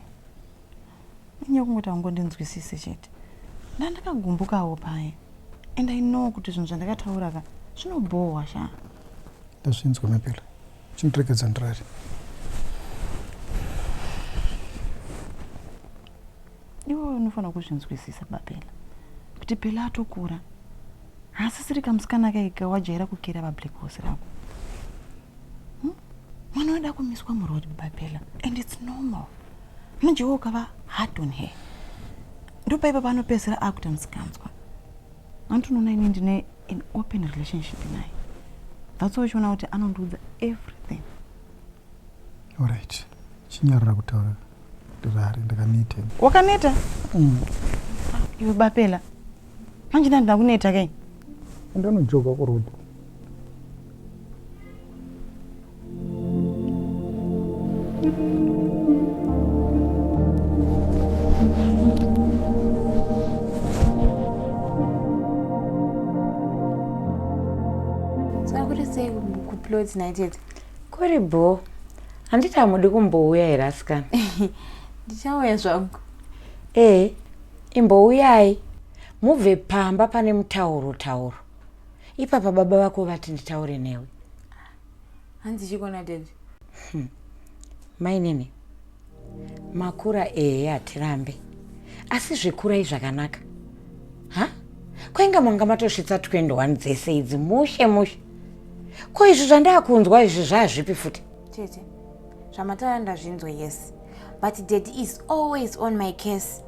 inyaya kungoti aungondinzwisise chete ndandakagumbukawo paye and i know kuti zvinhu zvandakataura ka zvinobhohwa sha ndazvinzwa mapela chindirekedza ndirari Iwe unofanira kuzvinzwisisa Babella kuti Bella atokura haasisiri kamusikana kaika wajaira kukera vablack horse rako hmm? mwana hmm? wada kumiswa muroad Babella and it's normal mujewo ukava hard on her ndopaipa panopedzera akuita musikanzwa anti unoona ini ndine an open relationship naye that's why uchiona kuti anondiudza everything Alright. Chinyarara kutaura. Ndirare ndakaneta. Wakaneta? Mm. Iwe bapela. Manje ndani ndakuneta kai? Ndanojoka ku road. Thank you. clothes na chete Kuri bho. Handiti hamudi kumbouya here asikana? Ndichauya zvangu. Eh, imbouyai. Mubve pamba pane mutauro tauro. Ipapa baba vako vati nditaure newe. Hanzi chikona daddy. Hmm. Mainini. Makura ehe hatirambe asi zvekurai zvakanaka ha kwainga manga matosvitsa 21 dzese idzi mushe mushe ko izvi zvandakunzwa izvi zvaazvipi futi tete zvamatara ndazvinzwa yes but dad is always on my case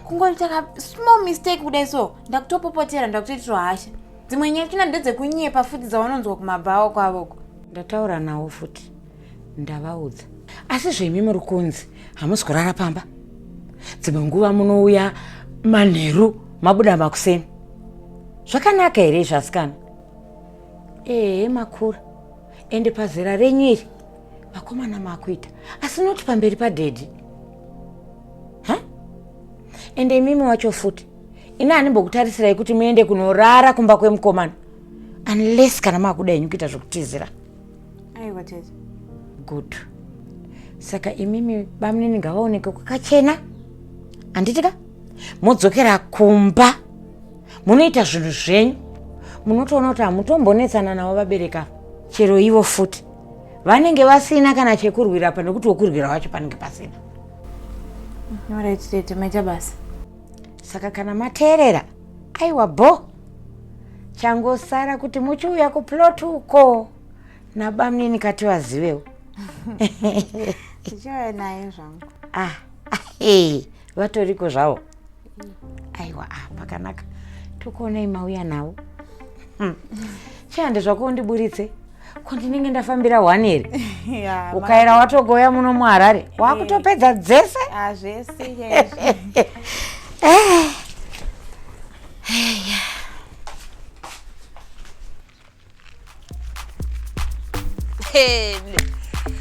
kungoita ka small mistake kudai so ndakutopopotera ndakutoitirwa hasha dzimwe nyaya china ndedzekunyepa futi dzawanonzwa kumabhawo kwavoko ndataura nawo futi ndavaudza asi zvemi muri kunzi hamusi kurara pamba dzimwe nguva munouya manheru mabuda makuseni zvakanaka here izvi asikana ehe makura ende pazera renyu iri vakomana makuita asi noti pamberi padhedhi ha ende imimi wacho futi ini handimbokutarisirayi kuti muende kunorara kumba kwemukomana unless kana maakuda henyu kuita zvokutizira aiwa tete good saka imimi bamunini ngavaoneke kwakachena handiti ka modzokera kumba munoita zvinhu zvenyu munotoona kuti hamutombonetsana navo vabereka chero ivo futi vanenge vasina kana chekurwira pa nekuti wokurwira wacho panenge pasina saka kana mateerera Aiwa bho. Changosara kuti muchiuya kuplot uko nabamnini kati vazivewo. Ndichauya naye zvangu. Ah, hey, vatoriko zvavo. Aiwa, ah, pakanaka. Tokuonai mauya nawo. Hmm. Chande zvako undiburitse. ko ndinenge ndafambira one here ukaera watogoya muno muharare eh. wakutopedza dzese ah, zvese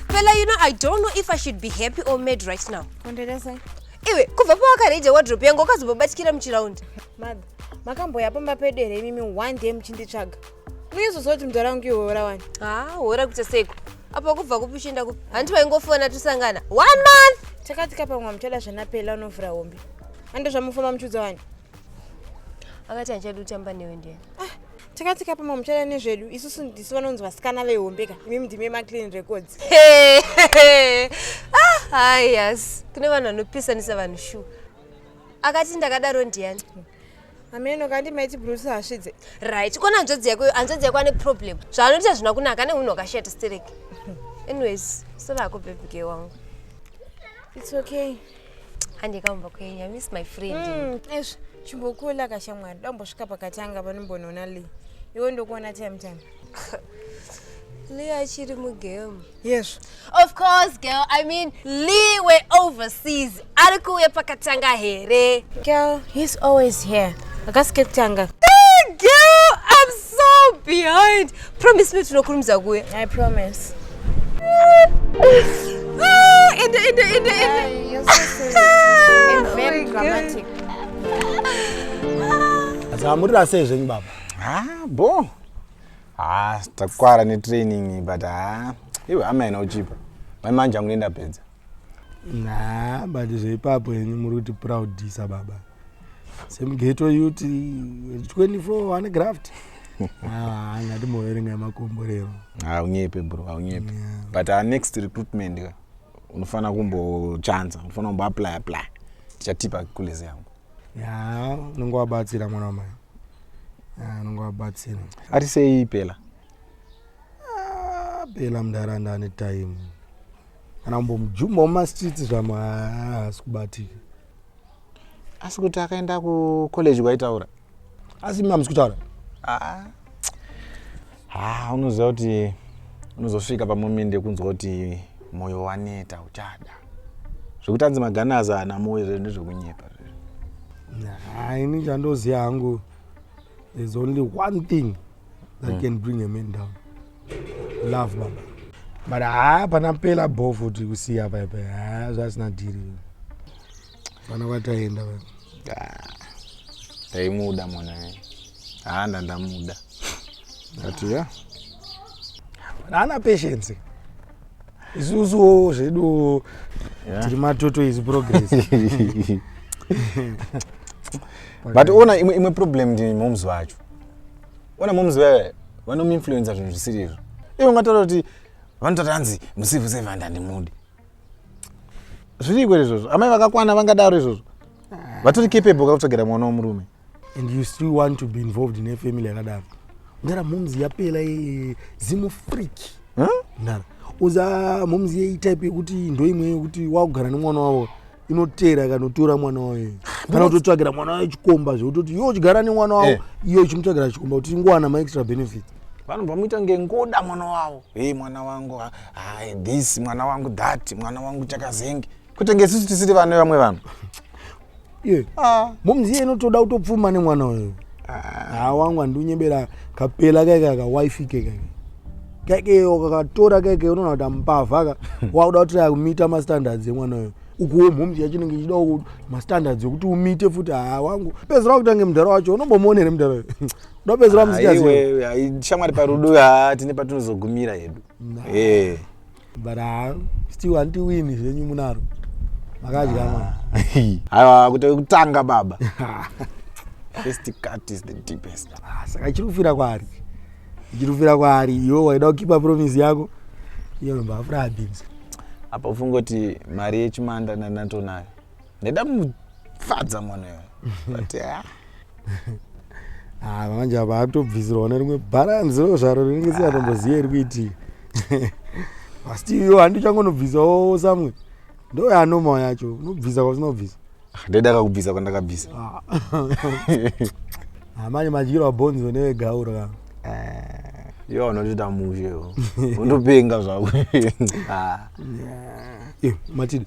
Fela, you know, I don't know if I should be happy or mad right now. Iwe, kubva pawakareja wardrobe yangu wakazobabatikira muchiraundi. Mother, makamboya pamba pedu here imimi one day muchinditsvaga? uyezoziva kuti mudhara wangu ihora wani ha ah, hora kuita seiko apa kubva kupi uchienda kupi handiti vaingofona tosangana one month takati kapamwa muchada zvanapela unovhura hombe ande zvamufamba muchiudza wani akati handichadi kutamba newe ndiye ah, takati kapamwa muchada nezvedu isusu ndisu vanonzi vasikana vehombeka imi mdime maclean records ah, yes kune vanhu vanopisanisa vanhu shu akati ndakadaro ndiyani hameno kandi maiti bruce hasvidze right kona hanzvadzi yako hanzvadzi yako ane problem zvaanoita hazvina kunaka ane unhu wakashata stereki anyways sorako bebige wangu its okay handikaumba kwenyu i miss my friend mm, ezvo chimbokula kashamwari dambosvika pakati anga panombonoona lee iwe ndokuona time time lee achiri mugame Yes. Of course, girl. I mean, Lee were overseas. Ari kuuya pakatanga here? Girl, he's always here. Akasike kutanga. Hey, girl, I'm so behind. Promise me tinokurumidza kuuya. I promise. Ah, ende, ende, ende, ende. You're so serious. And very dramatic. Dzamurira sei zvenyu baba? Ah, bo. haa takwara netraining but haa iwe hama ina uchipa mai manje angu nendapedza na but zveipapo henyu muri kuti proudisa baba semugeto yuti 24 ane graft handati ah, moverenga yemakomborero haunyepe bro haunyepe but our next recruitment ka unofanira kumbochanza unofanira kumboapply apply tichatipa kulezi yangu ya unenge wabatsira mwana wamai ya unenge wabatsira ati sei pela Ah, pela mundaranda ane time kana kumbomujumba mumastreets zvamo haasi kubatika asi kuti akaenda kucollege kwaitaura asi mimi hamusi kutaura Ah, Haa unoziva kuti unozosvika pamomende yekunzwa kuti moyo waneta uchada zvekuti anzi magana azana moyo zvezvo ndezvekunyepa zvezvo Nah, ini chandoziva hangu there's only one thing that Mm. can bring a man down love baba but haa pana pela bho futi kusiya paipa haa zvasina dhiri vana vataenda ndaimuda mwana haa ndandamuda ati ya haana patience isusuwo zvedu tiri matoto izi progress but ona imwe, imwe problem ndi moms vacho ona moms vaye vanomuinfluenza zvinhu zvisiri izvo ivo ngataura kuti vanototanzi musivu sevanda ndimudi zviriko here izvozvo amai vakakwana vangadaro izvozvo ah. vatori capable kakutsvagera mwana wemurume and you still want to be involved in a family yakadaro ndara momzi yapela zimu freak ndara uza momzi yeitype yekuti ndoimwe yekuti wakugara nemwana wavo inoteera ikanotora mwana wayo kana kutotsvagira mwana wayo chikomba zvekutoti yo chigara nemwana wawo eh. iyo ichimutsvagira chikomba kuti ingowana maextra benefit vanhu vamuita ngengoda mwana wavo hey mwana wangu hai this mwana wangu that mwana wangu chakazenge kuti ngesusu tisiri vane vamwe vanhu ye ah. momziye inotoda kutopfuma nemwana wayo haa wangu handiunyebera kapela kaika kawifi kekaika kaikeyo kakatora kaike unoona kuti amupavha ka wakuda kuti akumita mastandards emwana uyo ukuwo mhomzi yacho inenge ichida mastandards ekuti umite futi haa wangu pedzera kutange mudhara wacho unombomuona here mudhara uyo ndopedzera musikaziwe shamwari parudo haa tine patinozogumira hedu ee eh. but uh, still anti win zvenyu munaro makadya ah. mwana haiwa kuti kutanga baba first cut is the deepest ah, saka chiri kufira kwaari chiri kufira kwaari iwe waida kukipa promise yako iyo nombaafura abinzi apa ufungoti mari yechimanda ndanatonayo ndaida kumufadza mwana uyo but ah. Ah, manje apa atobvisirwa ne rimwe bharanzi ro zvaro rinenge siyatomboziva iri kuitii asi iyo handi uchangonobvisawo samwe ndo yanomao yacho unobvisa kwasinobvisa ah, ndaida kakubvisa kwandakabvisa ah. ah, manje madyiro abhonzi wenewegauro ka yo unotoita mushe undopenga zvako matidi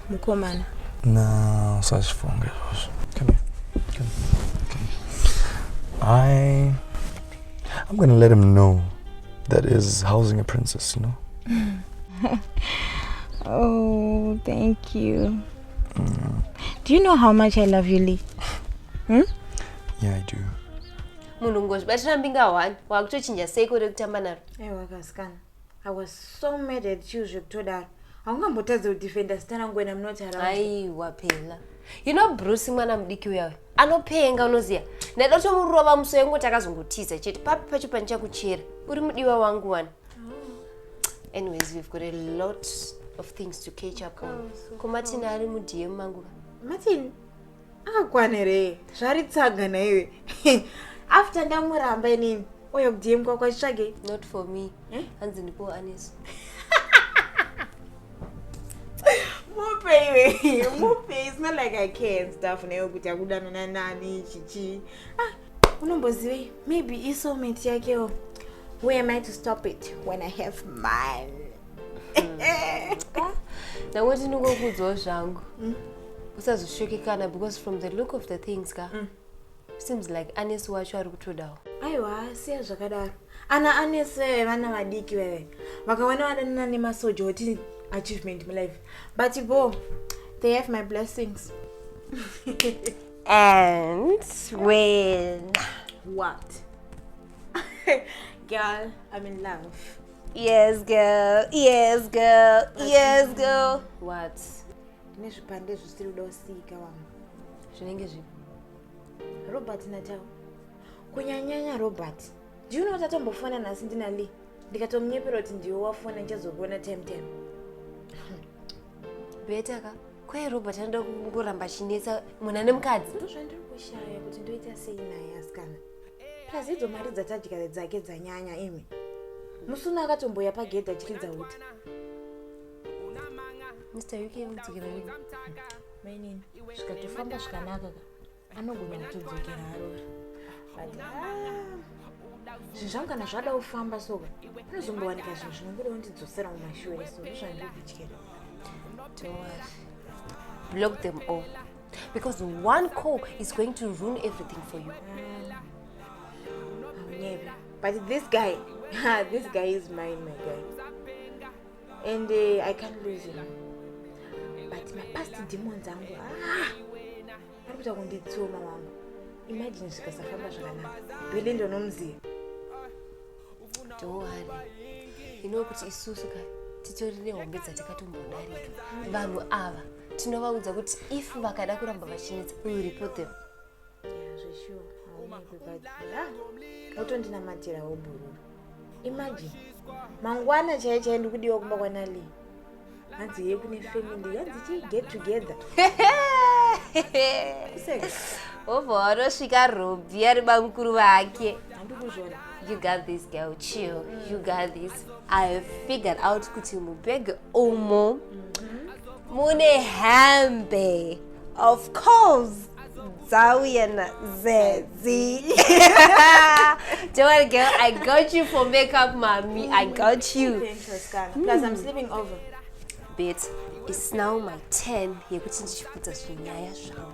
mukomana na usazvifunga izvozvo come here come here come here i i'm gonna let him know that is housing a princess you know oh thank you mm. do you know how much i love you lee hmm? yeah i do munhu ngozvibatira mbinga one wakutochinja seiko rekutamba naro aiwa kasikana I was so mad at you zvekutodaro haungambotadze kudefenda zita rangu wena munoti aiwa phela you know bruce mwana mudiki uyawe anopenga unoziva ndaida kutomurova muso yangu kuti akazongotiza chete papi pacho pandichakuchera uri mudiwa wangu wani oh. anyways we've got a lot of things to catch up on komatini ari mudm manguva matini akwane re zvari tsaga naiwe after ndamuramba inini oya kudm kwako achitsvage not for me eh? hanzi eh? ndipo aneso mupe iwe mupe it's not like i can staff naiwe kuti akudana nanani chichi ah unombozivei maybe isoulmate yakewo who am i to stop it when i have mine ndango tinongokuudzawo zvangu mm. usazosvekekana because from the look of the things ka mm. seems like anesi wacho ari kutodawo aiwa siya zvakadaro ana anesi veve vana vadiki veve vakawana vadanana nemasoja oti achievement mulife but bo they have my blessings and when what girl i'm in love Yes girl, yes girl, yes girl. What? Tine zvipande zvisiri kuda kusiyika wamwe. Zvinenge zvipi? Robert Natal. Kunyanyanya Robert. Do you know kuti atombofona nhasi ndina Lee? Ndikatomunyepera kuti ndiwe wafona ndichazokuona time time. Beta ka. Kwaye Robert anoda kungoramba achinetsa munhu ane mukadzi. Ndozvandiri kushaya kuti ndoita sei naye asikana. plus idzo mari dzatadya dzake dzanyanya imi musuna akatomboya pagedhi achiridza uti mr uk udzikira ii mainini zvikatofamba zvikanaka ka anogona kutodzokera arora but ah, zvinhu zvangu kana zvada kufamba soka anozombowanika zvinhu zvinongoda kundidzosera mumashure so ndozvandiri kutyera towari block them all because one call is going to ruin everything for you Never. but this guy this guy is mine my guy and uh, i can't lose him but mapast demons angu ah, ari kuita kunditsioma wangu imagine zvikasafamba zvakanaka bele ndonomuziva dohari inokuti isusu ka titori nehombe dzatakatombondarika vanhu ava tinovaudza kuti if vakada kuramba vachinetsa we will report them otondinamatira wobhururu imagine mangwana chaiye chaiye ndikudiwa kumba kwanali hanzi ye kune family hanzi chi get together obva wanosvika robhi ari bamukuru vake handikuzvona you got this girl chill you got this i figured out kuti mubhege umo mm -hmm. mune hambe of course dzauya nazedzi don't worry girl i got you for makeup mommy i got you plus i'm sleeping over bit is now my turn yekuti ndichiputsa zvinyaya zvangu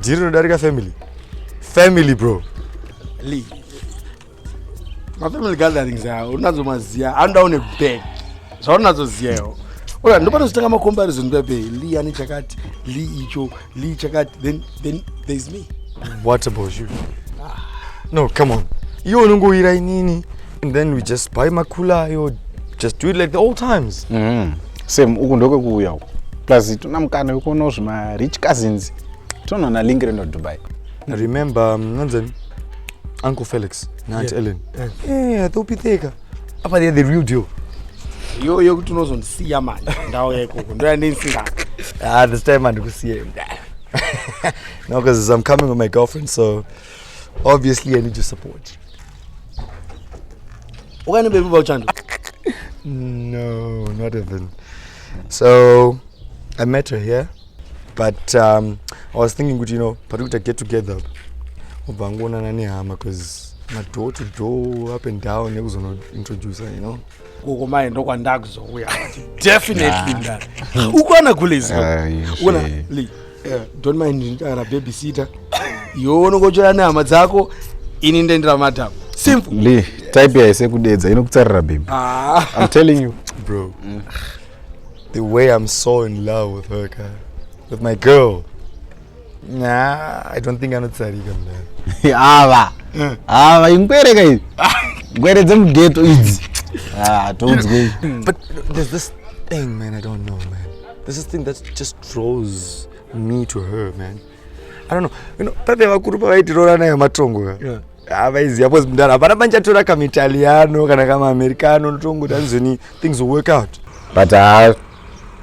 Jiri rinodarika family. Family bro. Lee. Ma family gatherings awo unazo maziya anoda une bag. Zvaunazo ziyawo. Oya ndopano zitanga ma comparison pepe Lee ani chakati, Lee icho, Lee chakati then then there is me. What about you? Ah. No, come on. Iwe unongoira inini. and then we just buy makula ayo just do it like the old times mm. same uku ndokwekuuya uku plus tona mukana wekuonawo zvimarich cousins tonoona link reno dubai remember um, nanzani uncle felix naant yeah. ellen yeah. yeah, yeah, thopitheka apa they're the real deal yo yekuti unozondisiya manje ndawo yaikoko ndoyandinsingaa ah, this time andikusiye no because i'm coming with my girlfriend so obviously i need your support ukani bebi vauchando no not even so i met her here but um, i was thinking kuti you know patiri kuita get together ubva angoonana nehama bcause madoor to door up and down nekuzonointroducer you know Gogo mai ndokwandakuzouya. Definitely ndani. Ukwana kulezi. Ukwana Lee. Yeah. Don't mind ndara babysitter. Yono kochera nehama dzako ini ndendira madam. Simple. Lee, type yaise kudedza inokutsarira baby. Ah. I'm telling you. Bro. Mm. The way I'm so in love with her, guy. With my girl. Nah, I don't think anotsarika mdhara. Ava. Eh. Ava ingwere ka izi. Ngwere dzemughetto idzi. Ah, toudzwe. But there's this thing man I don't know man. There's this thing that just draws me to her man. I don't know. You know, pave vakuru pavaitirora nayo matongo ka. Yeah. avaiziva ah, bcause mdara hapana pandichatora kamaitaliano kana kamaamerica ano ndotongotanzoni things will work out but uh,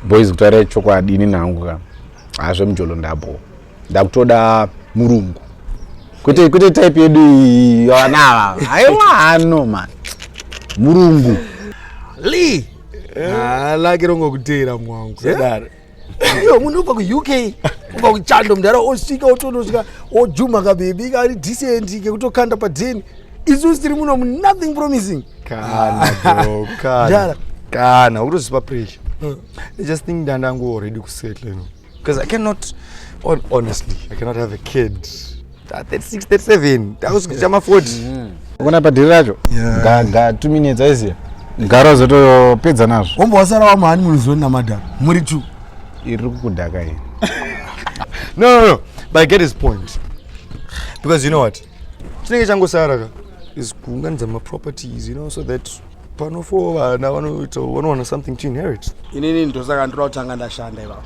boys kutaura chokwadi ini nangu ka hazve mujolo ndabo ndakutoda murungu kwete kwete type yedu iyi vanava aiwa hano man murungu lee ah, lake rongokuteera mwangu sedaro iyo munhu ubva kuuk ubva kuchando mudhara osvika otonosvika ojuma kabebi kari decent kekutokanda padheni isusu tiri muno nothing promising kana bro kana kana utozipa pressure mm. i just think ndandangu already kusettle no because i cannot on, honestly i cannot have a kid 36 37 takusvika chama 40 mm. ukona padhiri racho ga ga 2 minutes aiziya gara zotopedza nazvo wombo wasara wamahani munozoni namadhara muri two iri kukudhaka iyi no no no but i get his point because you know what chinenge changosara ka is kuunganidza maproperties you know so that pano for vana vanoita vanowana something to inherit inini ndosaka ndoda kutanga ndashanda ivavo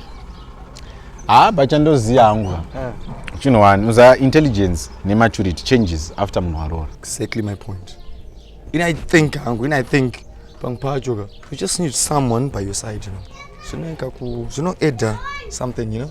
haa ah, bachandoziva hangu eh. chinhu wani uza intelligence nematurity changes after munhu waroora exactly my point in i think hangu in i think pamwe pacho ka you just need someone by your side you know zvinoita ku zvinoeda something you know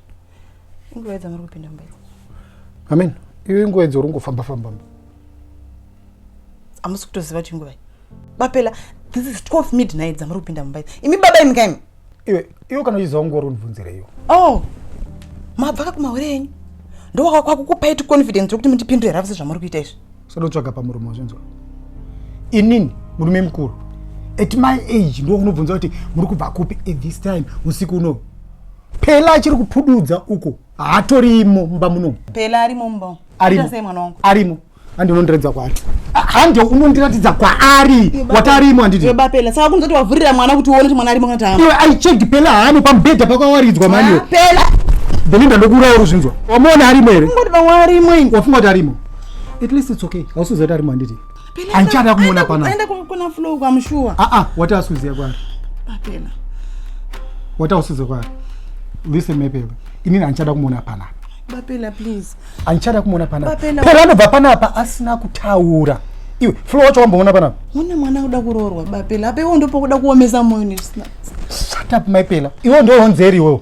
inguva yedza muri kupinda mumba amen iyo inguva yedza uri kungofamba famba mba hamusi kutoziva kuti inguvai bapela this is 12 midnight dzamuri kupinda mumba imi baba imi kaimi iwe iwe kana uchiziva nguva uri kundibvunzira iyo oh mabva ka kumahore enyu ndowaka kwakukupai ti confidence rekuti mundipindure ravise zvamuri kuita izvi sodotsvaga pamurume wazvinzwa inini murume mukuru at my age ndo unobvunza kuti muri kubva kupi at this time usiku unowu Pela achiri kupududza uko haatorimo mumba muno. Pela arimo mumba umo. Arimo. Sei mwana wangu? Arimo. Handi unondiratidza kwaari. Handi unondiratidza kwaari. Wati arimo handiti? Iwe bapela. Saka kunzoti wavhurira mwana kuti uone kuti mwana arimo kana kuti haana. Iwe I checked Pela haano pamubhedha pakawaridzwa mani iwe. Ah, Pela. Belinda ndokuuraya uri zvinzwa. Wamuona arimo here? Ungoti pamwe arimo ini. Wafunga kuti arimo? At least it's okay. Hausizoti arimo handiti? handichada kumuona panaenda kuna flo kwamushuwa aa ah, ah, wati asuziya kwari papela wati ausuze kwari listen mepela inini handichada kumuona panapa bapela please handichada kumuona panapa pela anobva panapa asina kutaura iwe flo wacho wamboona panapa une mwana kuda kuroorwa bapela apo iwo ndopokuda kuomesa moyo shut up maipela iwo ndoonzeri iwewo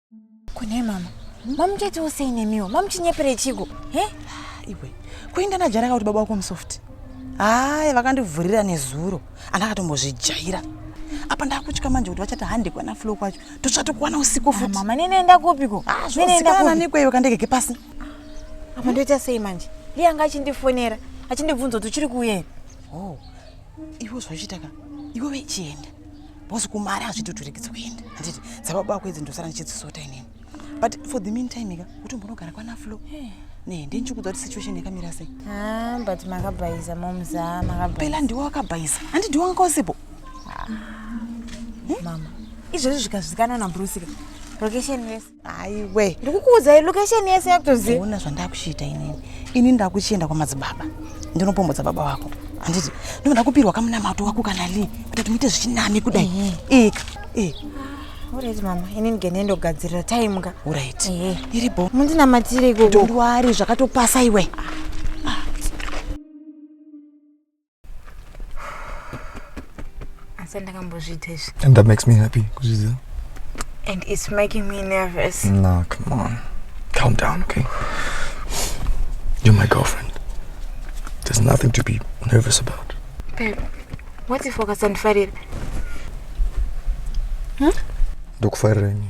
kune mama mamuchaitiwo sei nemiwo mamuchinyepere chiko he iwe kuinda najaraka kuti baba wako musoft hayi vakandivhurira nezuro andakatombozvijaira apa ndakutya manje kuti vachati hande kwana flo kwacho totsvatokuwana usiku futi mama ninoenda kupiko ah, ninoendanikwe iwe kandegeke pasi apa ndoita sei manje liye anga achindifonera achindibvunza kuti uchiri kuuya here oh, iwe zvauchiitaka iwe vechienda boss kumari hazvitoturekidzi kuenda handiti dzababa wako idzi ndosara ndichidzisota inini but for the mean time ka utombonogara kwana flo eh. ne ndinchikudza kuti situation yakamira sei ah, but makabhaiza momza makabhaiza ndiwe wakabhaiza handi ndiwe wanga wasipo ah. hmm? mama izvozvi zvikazvikanwa nabruceka location yese aiwe ndikukuudzai location yese yakutoziva ona zvandakuchiita inini ini ndakuchienda kwamadzibaba ndinopombodza baba wako handiti ndinoda kupirwa kamunamato wako kana lii kuti timuite zvichinami kudai eh. ika eh. Alright mama, ini ndigende ndogadzirira time ka. Alright. Eh. Iri bo. Mundinamatire ikoko. Ndwari zvakatopasa iwe. Ah. asi ndakambozviita izvi and that makes me happy kuzviziva and it's making me nervous no come on calm down okay you're my girlfriend there's nothing to be nervous about babe what if ukasandifarira hmm? ndokufarira inini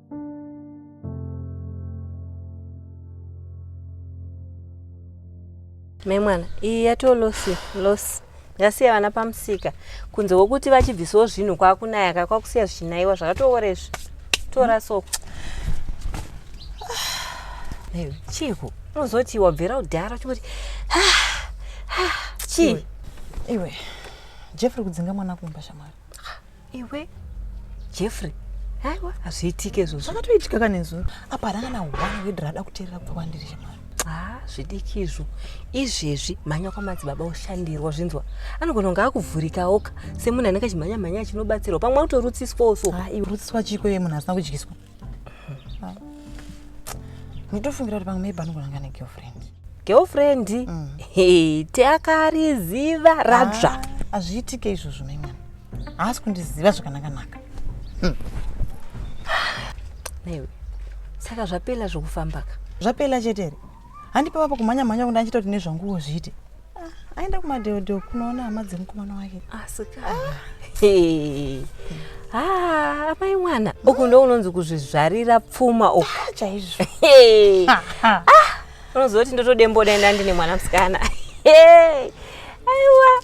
Me mwana iyi yatoo losi losi yasiya vana pamusika kunze kwokuti vachibvisawo zvinhu kwakunayaka kwakusiya zvichinaiwa zvakatoora izvi tora so chiiko unozoti wabvira kudhara chingoti chii iwe jeff ri kudzinga mwana kumba shamwari iwe jeffrey aiwa hazviitike izvozvo zvakatoitika kanezuro apa haranga na one word rada kuteerera kubva kwandiri shemani ha zvidiki izvo izvezvi mhanya kwamadzibaba oshandirwa zvinzwa anogona kunge akuvhurikaoka semunhu anenge achimhanya mhanya achinobatsirwa pamwe utorutsiswawo so ha iwe rutsiswa chiko iye munhu asina kudyiswa nditofungira kuti pamwe maybe anogona anga negirlfriend girlfriend mm. hey, teakariziva radzva ah, hazviitike izvozvo mai mwana haasi kundiziva zvakanakanaka hmm. naiwe saka zvapela zvokufambaka zvapela chete here handi pava pakumhanya mhanya kuti andichita kuti nezvanguwo zviite ah, aenda kumadheodheo kunoona hama dzemukomana wake asika ah, ah, amai mwana uku ndo unonzi kuzvizvarira pfuma uku ah, chaizvo unoziva kuti ndotodemboda enda ndine mwana musikana aiwa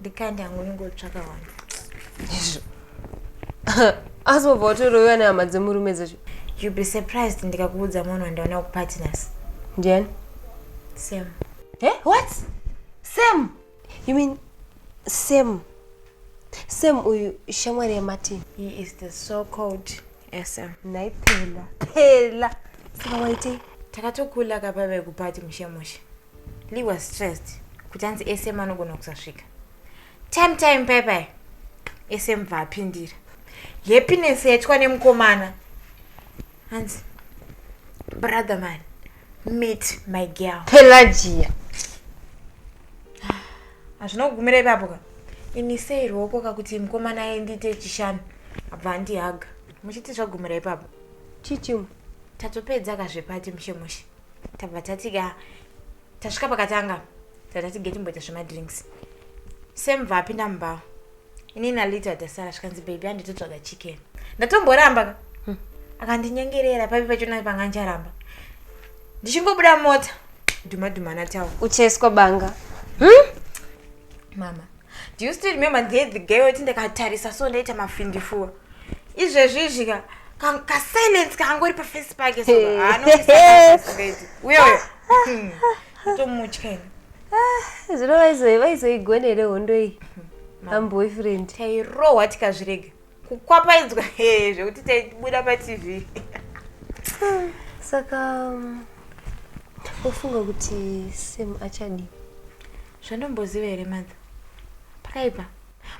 ndikaenda hangu ndingotsvaka vanhu izvo asi wobva watoroiwa nehama dzemurume dzacho you be surprised ndikakuudza munhu wandaona kupartners ndiani sam e eh, what sam you mean sam sam uyu shamwari yemartin he is the so called sam nhai phela phela saka waitei takatokula kapave kupati mushe mushe Lee was stressed kuti hanzi sm anogona kusasvika time time pai pai sm bva apindira happiness yaitwa nemukomana hanzi brother man meet my girl pelagia hazvina kugumira ipapo ka ini sei ruoko kakuti mukomana aendiite chishanu abva andihaga muchiti zvagumira ipapo chichimu tatopedza kazvepati mushe mushe tabva tatika tasvika pakatanga tatati getimboita zvemadrinks semva apinda mumba ini nalita tasara zvikanzi bebi anditotsvaga chicken ndatomboramba ka hmm. akandinyengerera papi pachona panga ndicharamba ndichingobuda mota dhuma dhuma natawo ucheswa banga hmm? mama Do you still remember ndiye the girl iti ndakatarisa so ndaita mafindifuwa izvezvizvi ka ka- kasilence kaangori pafesi pake so Hey. anoisaaidi uye uyo Hmm. tomutya ini zvino vaizo- vaizoigona here hondo iyi amboyfriend tairohwa tikazvirega kukwapaidzwa he zvekuti taibuda patv saka um, ofunga kuti sam achadii zvandomboziva here mother pakaipa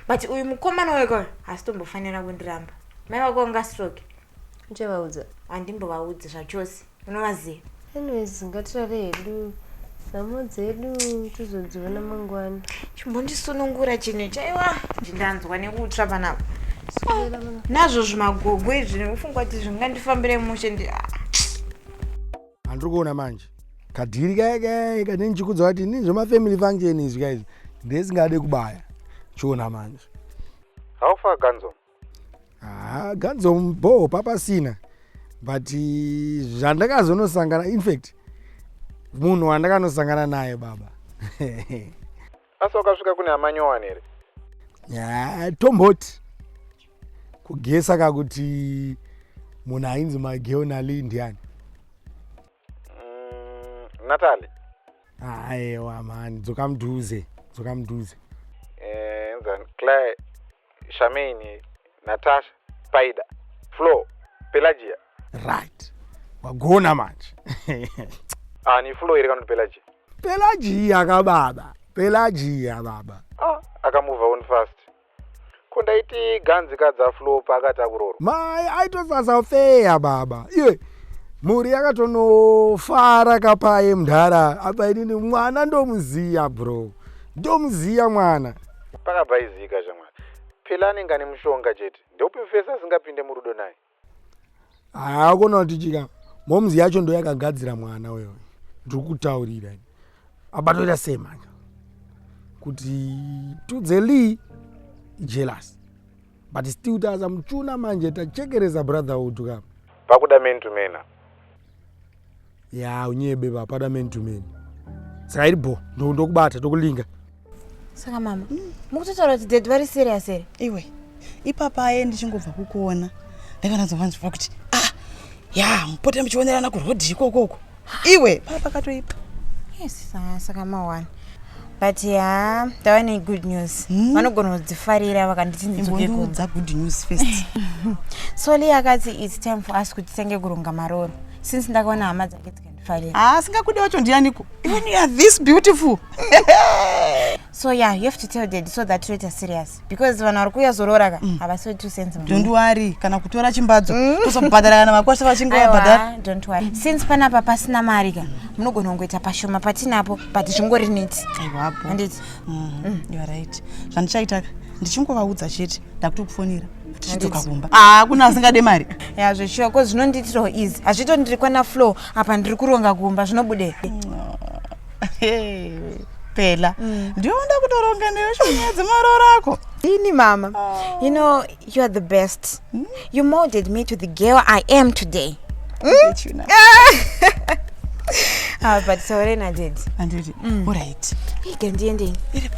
but uyu mukomana weko hasitombofanira kundiramba mai vako vangastroke uchabaudza handimbovaudzi zvachose unovaziva anyways ngatirare hedu nhamo dzedu tizodziona mangwana chimbondisunungura chinhu chaiwa ndanzwa nekutsva panapa nazvo zvimagogo izvi nekufungwa kuti zvingandifambire mushe ndi ah. handiri kuona manje kadhiri kaye kaye kane ndichikudza kuti ini zvemafamily function izvi kaizvi ndesingade kubaya chiona manje how far ganzo haa ganzo bhoo papasina but zvandakazonosangana infact munhu wandakanosangana naye baba asi wakasvika kune amanyowani here ya tomboti kugesa ka kuti munhu ainzi mageonali ndiani Mm, Natalie. Aiwa mani, dzoka mudhuze, dzoka mudhuze. Eh, enzani Claire, Shamini, Natasha, Paida, Flo, Pelagia. Right. Wagona manje. ah, ni Flo iri kana Pelagia. Pelagia ka baba. Pelagia baba. Ah, akamuva on fast. Ko ndaiti ganzi kadza flopa akati akuroro. Mai aitosasa feya baba. Iye mhuri yakatonofara kapaye mdhara apa inini mwana ndomuziya bro. Ndomuziya mwana. Pakabva izika shamwari. Phela anenge ane mushonga chete. Ndopi mfesi asingapinde murudo naye. haa kona kuti chika momzi yacho ndo yakagadzira mwana uyo ndiri kutaurira abatoita sei manje kuti tudze lee jealous but still taza muchuna manje tachekeresa brotherhood ka pakuda man to mana ya unyebe vapada man to man saka iri bho ndokubata ndokulinga saka mama mukutotaura kuti dad vari serious here iwe ipapa aye ndichingobva kukuona ndakanazovanzwa kuti ah ya mupote muchionerana kurhodhi ikokoko iwe papa katoipa yes saka mawana but haa ndava negood news hmm? vanogona kudzifarira vakanditi ndidzokeudza good news first soli akati its time for us kuti tenge kuronga maroro since ndakaona hama dzake dzikandifarira haa ah, singakude wacho ndiyaniko even youare this beautiful so yeah you have to tell dad so that toita serious because vanhu vari kuuya zorora ka mm. havasi two cents don't worry kana kutora chimbadzo mm. kuzobhadhara kana vakwasha vachinge vabhadhara don't worry mm. since panapa pasina mari ka munogona kungoita pashoma patinapo but zvingori neti aiwapo handiti you're right zvandichaitaka ndichingovaudza chete ndakutokufonera tichidzoka kumba hakuna ah, asingade mari ya zveshuwa ko zvinondiitirawo easy hazvito ndiri kwana flow apa ndiri kuronga kumba zvinobude pela mm. ndiwe unoda kutoronga newe shonyaya dzemaroora ako ini mama oh. you know you are the best mm? you molded me to the girl i am today mm? ah, but sore naded anditi mm. orit igandiendei iripo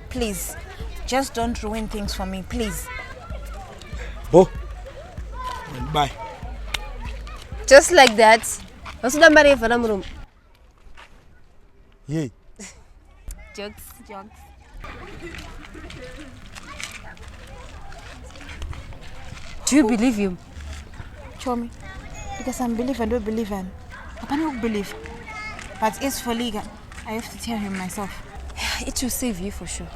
please just don't ruin things for me please bo bye just like that vasuda mari yevana murume yei jokes jokes do you believe him chomi because i'm believer ndo believer hapana kubelieve but as for legal I have to tell him myself. It will save you for sure.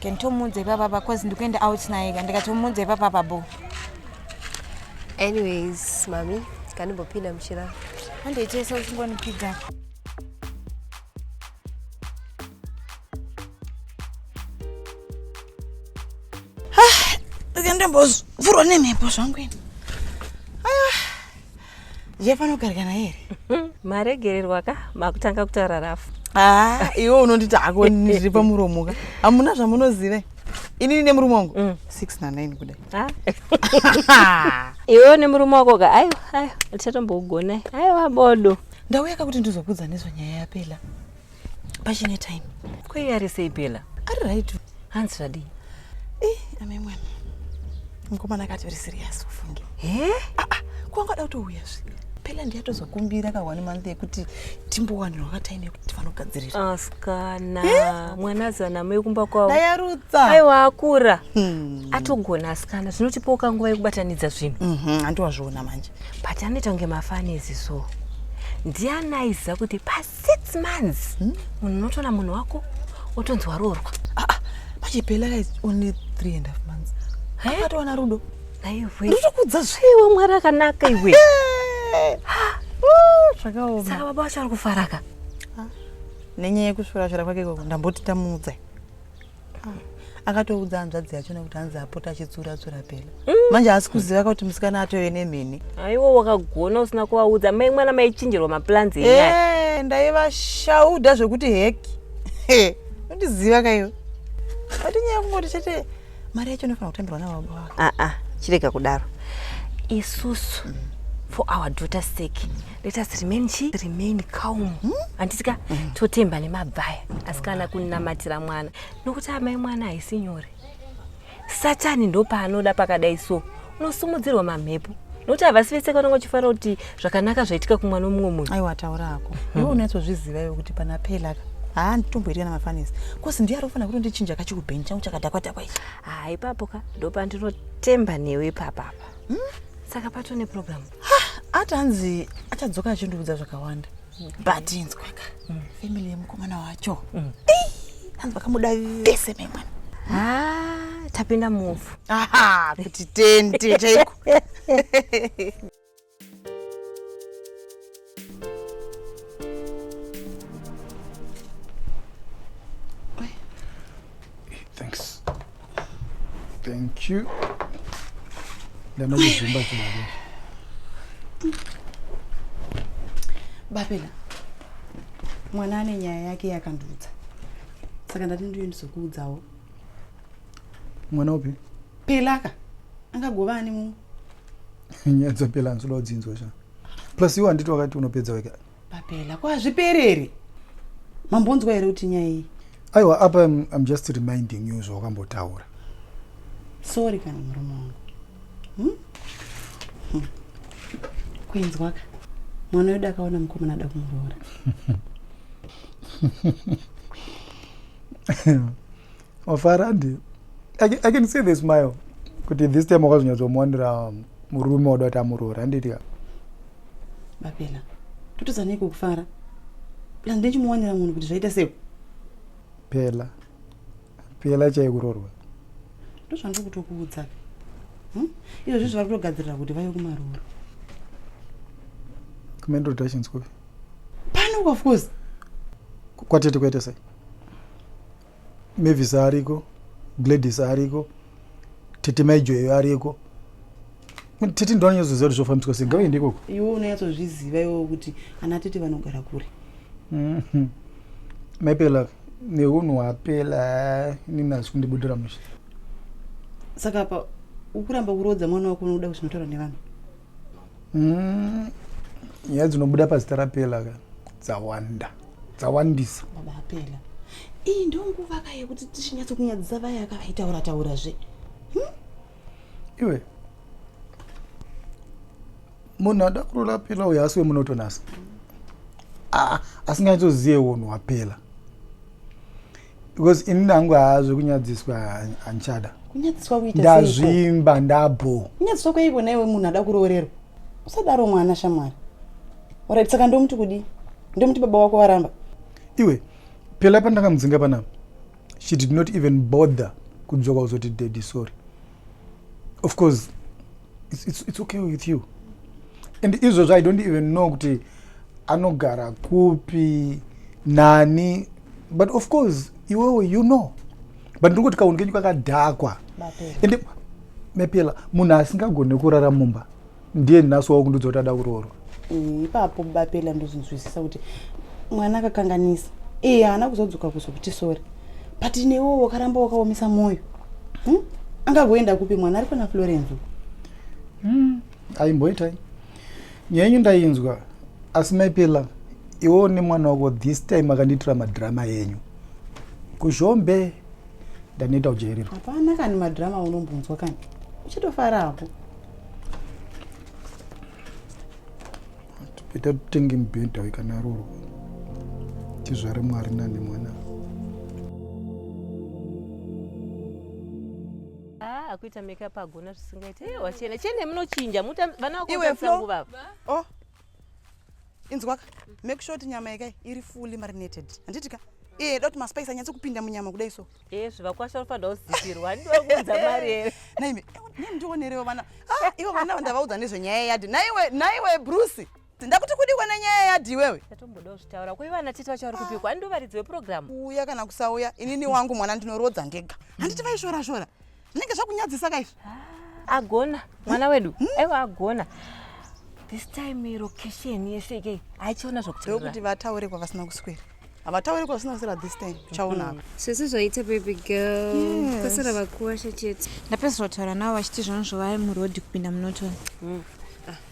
Can tomuudza ipapa apa cause ndikuenda out naye ka ndikatomuudza ipapa apa bo. Anyways, mami, kanimbopinda muchira. Handiitesa uchingonipidza. Ah, ndikandambozvurwa nemhepo zvangu ini. zvefanogarikana here maregererwa ka makutanga kutaura rafu aa iwe unonditi hako ndiri pamuromo ka hamuna zvamunozive inini nemurume wangu Mm. 6 na 9 kudai Ah. iwewo nemurume wako ka aiwa aiwa tichatombokugonai aiwa bodo ndauya ka kuti ndizokudza nezvenyaya yapela pachine time kwei ari sei pela ari right hanzi zvadii eh, ame mwana mukomana akati uri serious ufunge he ah, ah, kwanga da kutouya zvi pela ndiyatozokumbira ka one month yekuti timbowanira wakataime yekuti vanogadzirira askana ah, mwana azana mai kumba kwavo dayarutsa aiwa akura hmm. atogona askana zvinotipawo kanguva yekubatanidza zvinhu mhm, handiwazviona manje but anoita kunge mafanezi so ndiani aiziva kuti pasi six months hmm? munhu hmm? unotoona munhu wako otonzi waroorwa ah, ah, pachipela guys only three and half months akatowana rudo aiwe ndotokudza zveiwe mwari akanaka iwe zvakaoma saka baba vacho vari kufaraka nenyaya yekusvirashira kwake ikoko ndamboti tamuudza akatoudza hanzvadzi yacho nekuti hanzi apota achitsura tsura pena mm. manje haasi kuziva kuti musikana atove nemheni aiwo wakagona usina kuvaudza mai mwana maichinjirwa maplans enyaya eh, ndaivashauda zvekuti heki undiziva kaiwe but nyaya kungoti chete mari yacho inofanira kutambirwa nababa wake aa ah, ah, chirega kudaro isusu mm. for our daughter sake let us remain chi remain calm hmm? handisika hmm? mm. totemba nemabvaya asi kana kunamatira mwana nokuti amai mwana haisi nyore satani ndopaanoda pakadai so unosumudzirwa mamhepo nokuti havasi vese kana vachifanira kuti zvakanaka zvaitika kumwana womumwe munhu aiwa taura ako hmm. iwe unatozviziva iwe kuti pana pelaka haa nditomboitika namafanisi kosi ndiye ari kufanira kutondichinja kachikubheni changu chakadakwadakwa ichi haa ipapo ka ndopandinotemba newe ipapapa hmm? saka patone programu ati hanzi achadzoka achindiudza zvakawanda but inzwaka mm. family yemukomana wacho mm. hanzi vakamuda vese memwana ah, tapinda mufu kuti tende chaiko Thanks. Thank you. Then we zoom back to my room. Babela. Mwana ane nyaya yake yakandudza. Saka ndati ndiyo ndizokuudzawo. Mwana upi? Pelaka. Angagova ani mumwe. nyadza pela nsoda udzinzwa sha plus iwe handiti wakati unopedza weka papela ko hazvipereri mambonzwa here kuti nyaya iyi aiwa apa I'm, i'm just reminding you zvawakambotaura sorry kana murume wangu hmm? hmm. kuinzwaka mwana wedu akaona mukomana ada kumuroora wafara handi i can see the smile kuti this time wakazonyatsomuwanira murume wada kuti amuroora handiti ka bapela totadza nei kukufara pla ndechimuwanira munhu kuti zvaita sei pela pela chaikurorwa ndozvandiri kutokuudza hmm? izvo zvi zvavari kutogadzirira kuti vaive kumaroora kumental reductions kupi pano of course kwatete kuite sei Mavis ariko, Gladys ariko, Tete Maijoyo ariko. Tete ndo anonyatsoziva kuti zvofambiswa sei, ngavaende ikoko. Iwe unonyatsozviziva iwewo kuti ana Tete vanogara kure. Mhm. Maipela nehunhu hwapela inini hazvi kundibudira mushe. Saka apa ukuramba kuroodza mwana wako unoda kuzvinotaura nevanhu. Mm, nyaya dzinobuda pazita rapela ka dzawanda dzawandisa baba apela iyi ndo nguva ka yekuti tichinyatsokunyadzisa vaya yaka vaitaura taura zve iwe munhu ada kurola apela uyo asi wemunotonasa Ah, asinganyatsozive unhu wapela because ini nangu haa zvekunyadziswa handichada kunyadziswa kuita ndazvimba ndabho kunyadziswa kweiko naiwe munhu ada kuroorerwa usadaro mwana shamwari orit saka ndomuti kudii ndomuti baba wako varamba iwe pela pandakamudzinga panapa she did not even bother kudzoka kuzoti daddy sorry of course it's, it's, it's okay with you and izvozvo i don't even know kuti anogara kupi nani but of course iwewe you know but ndiri kuti kaunhu kenyu kakadhakwa and mepela munhu asingagone kurara mumba ndiye nhasi waukundudza kuti ada kuroorwa mm, ipapo bapela ndozonzwisisa kuti mwana akakanganisa iye eh, haana kuzodzoka kuzokuti sori but newo wakaramba wakaomesa mwoyo hmm? angagoenda kupi mwana ari pana florence hmm, aimboitai nyaya yenyu ndainzwa asi maipela iwewo nemwana wako this time akandiitira madrama enyu kuzhombe ndanoita kujairirwa hapana kani madrama unombonzwa kani uchitofara hapo ita totenge mubhedha wekanaroro tizvare mwari nani mwana ah, akuita makeup agona zvisingaite eh, wachena chene munochinja vana vakosangu vava oh. inzwaka make sure kuti nyama yake iri fully marinated handiti ka iye eh, da kuti maspice anyatse kupinda munyama kudai so Eh, zvivakwa zvanofanira kuzipirwa handiwa kuunza mari here naimi eh, ndionerewo vana ah, ivo vana vandavaudza nezvenyaya yadi naiwe naiwe bruce ndakuti kudikwa nenyaya yadi iwewe ndatombodawo zvitaura kwe vana tete vacho vari kupikwa handiwo varidzi weprogramu uya kana kusauya inini wangu mwana ndinorodza ndega handiti vaishora shora zvinenge zvakunyadzisa ka izvi agona mwana wedu hmm? aiwa agona this time location yeseke haichiona zvokuti vataure kwavasina kuswera havataure kwavasina kuswera this time tichaona hmm. sisi zvaita baby girl kwasara vakuwasha chete ndapedzisira kutaura navo vachiti zvanozvo vave muroad kupinda munotoni hmm.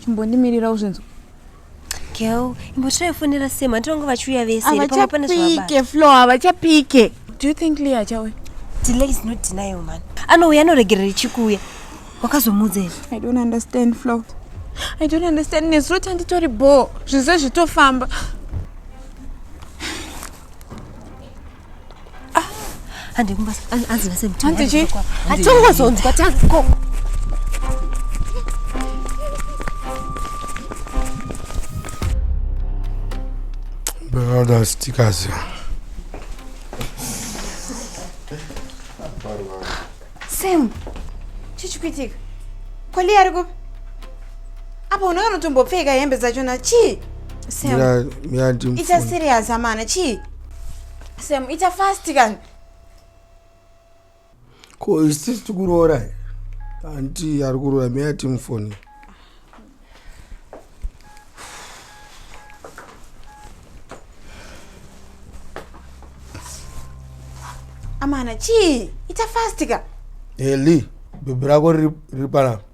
Chimbondimirira uzvinzwa. Girl, imbotirai foni ra Sam, handiti vanga vachiuya vese here pamwe pane zvavabata. Havachapike, Flo, havachapike. Do you think Leah achauya? Delay is not denial man. Anouya anoregerera ichikuuya. Wakazomuudza here? I don't understand, Flo. I don't understand. Nezuro tanditori bho, zvize zvitofamba. Ah, hande kumba anzi nase mtu. Hande chi? Atongo zonzi kwa tanzi ko. Bada stikazi. Sam, chichi kuitika? Kwali ari kupi? Apa unenge unotombopfeka hembe dzachona chii? Sam, ita serious amana chii? Sam, ita fast kani. Ko isisi tikuroora here? Anti ari kuroora me ati mufoni. Amana, chii? Ita fast ka. Eli, bhebhi rako riri pana.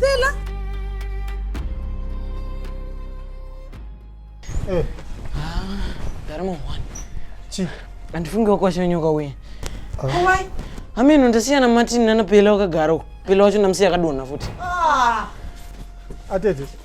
Bella. Eh. Ah, darimo one. Chi. Andifunge wakwashanyoka uye. Ah. Why? Ameno ndasiya na Martin nana Bella wakagara uko. Bella wacho ndamsiya akadonha futi. Ah. Atete.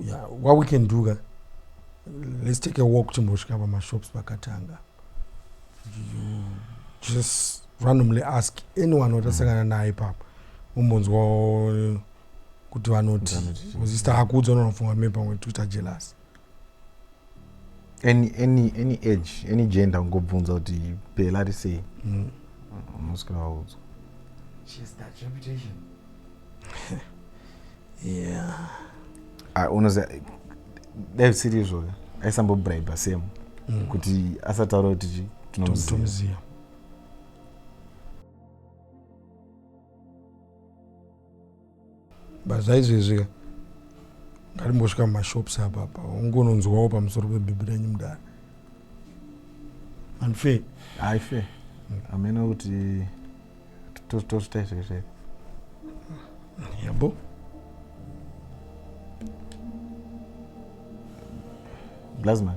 yeah, what we can do ka let's take a walk timbosvika pamashops pakatanga just randomly ask anyone watasangana mm. naye papa umbonzwa kuti vanoti ozista akuudza unonofunga me pamwe twitter jealous any, any, any age any gender ungobvunza kuti pela ri sei mm. unoswera waudzwa yeah. Ah, unoziva dai zvisiri izvoyo aisambobribe same mm. kuti asataura kuti chi tinomuziva but zvaizvezvi ka ngatimbosvika mumashops apapa ungononzwawo pamusoro pebhebhi renyu mudara andife haife hamena kuti tozvita izvezve yabo blazman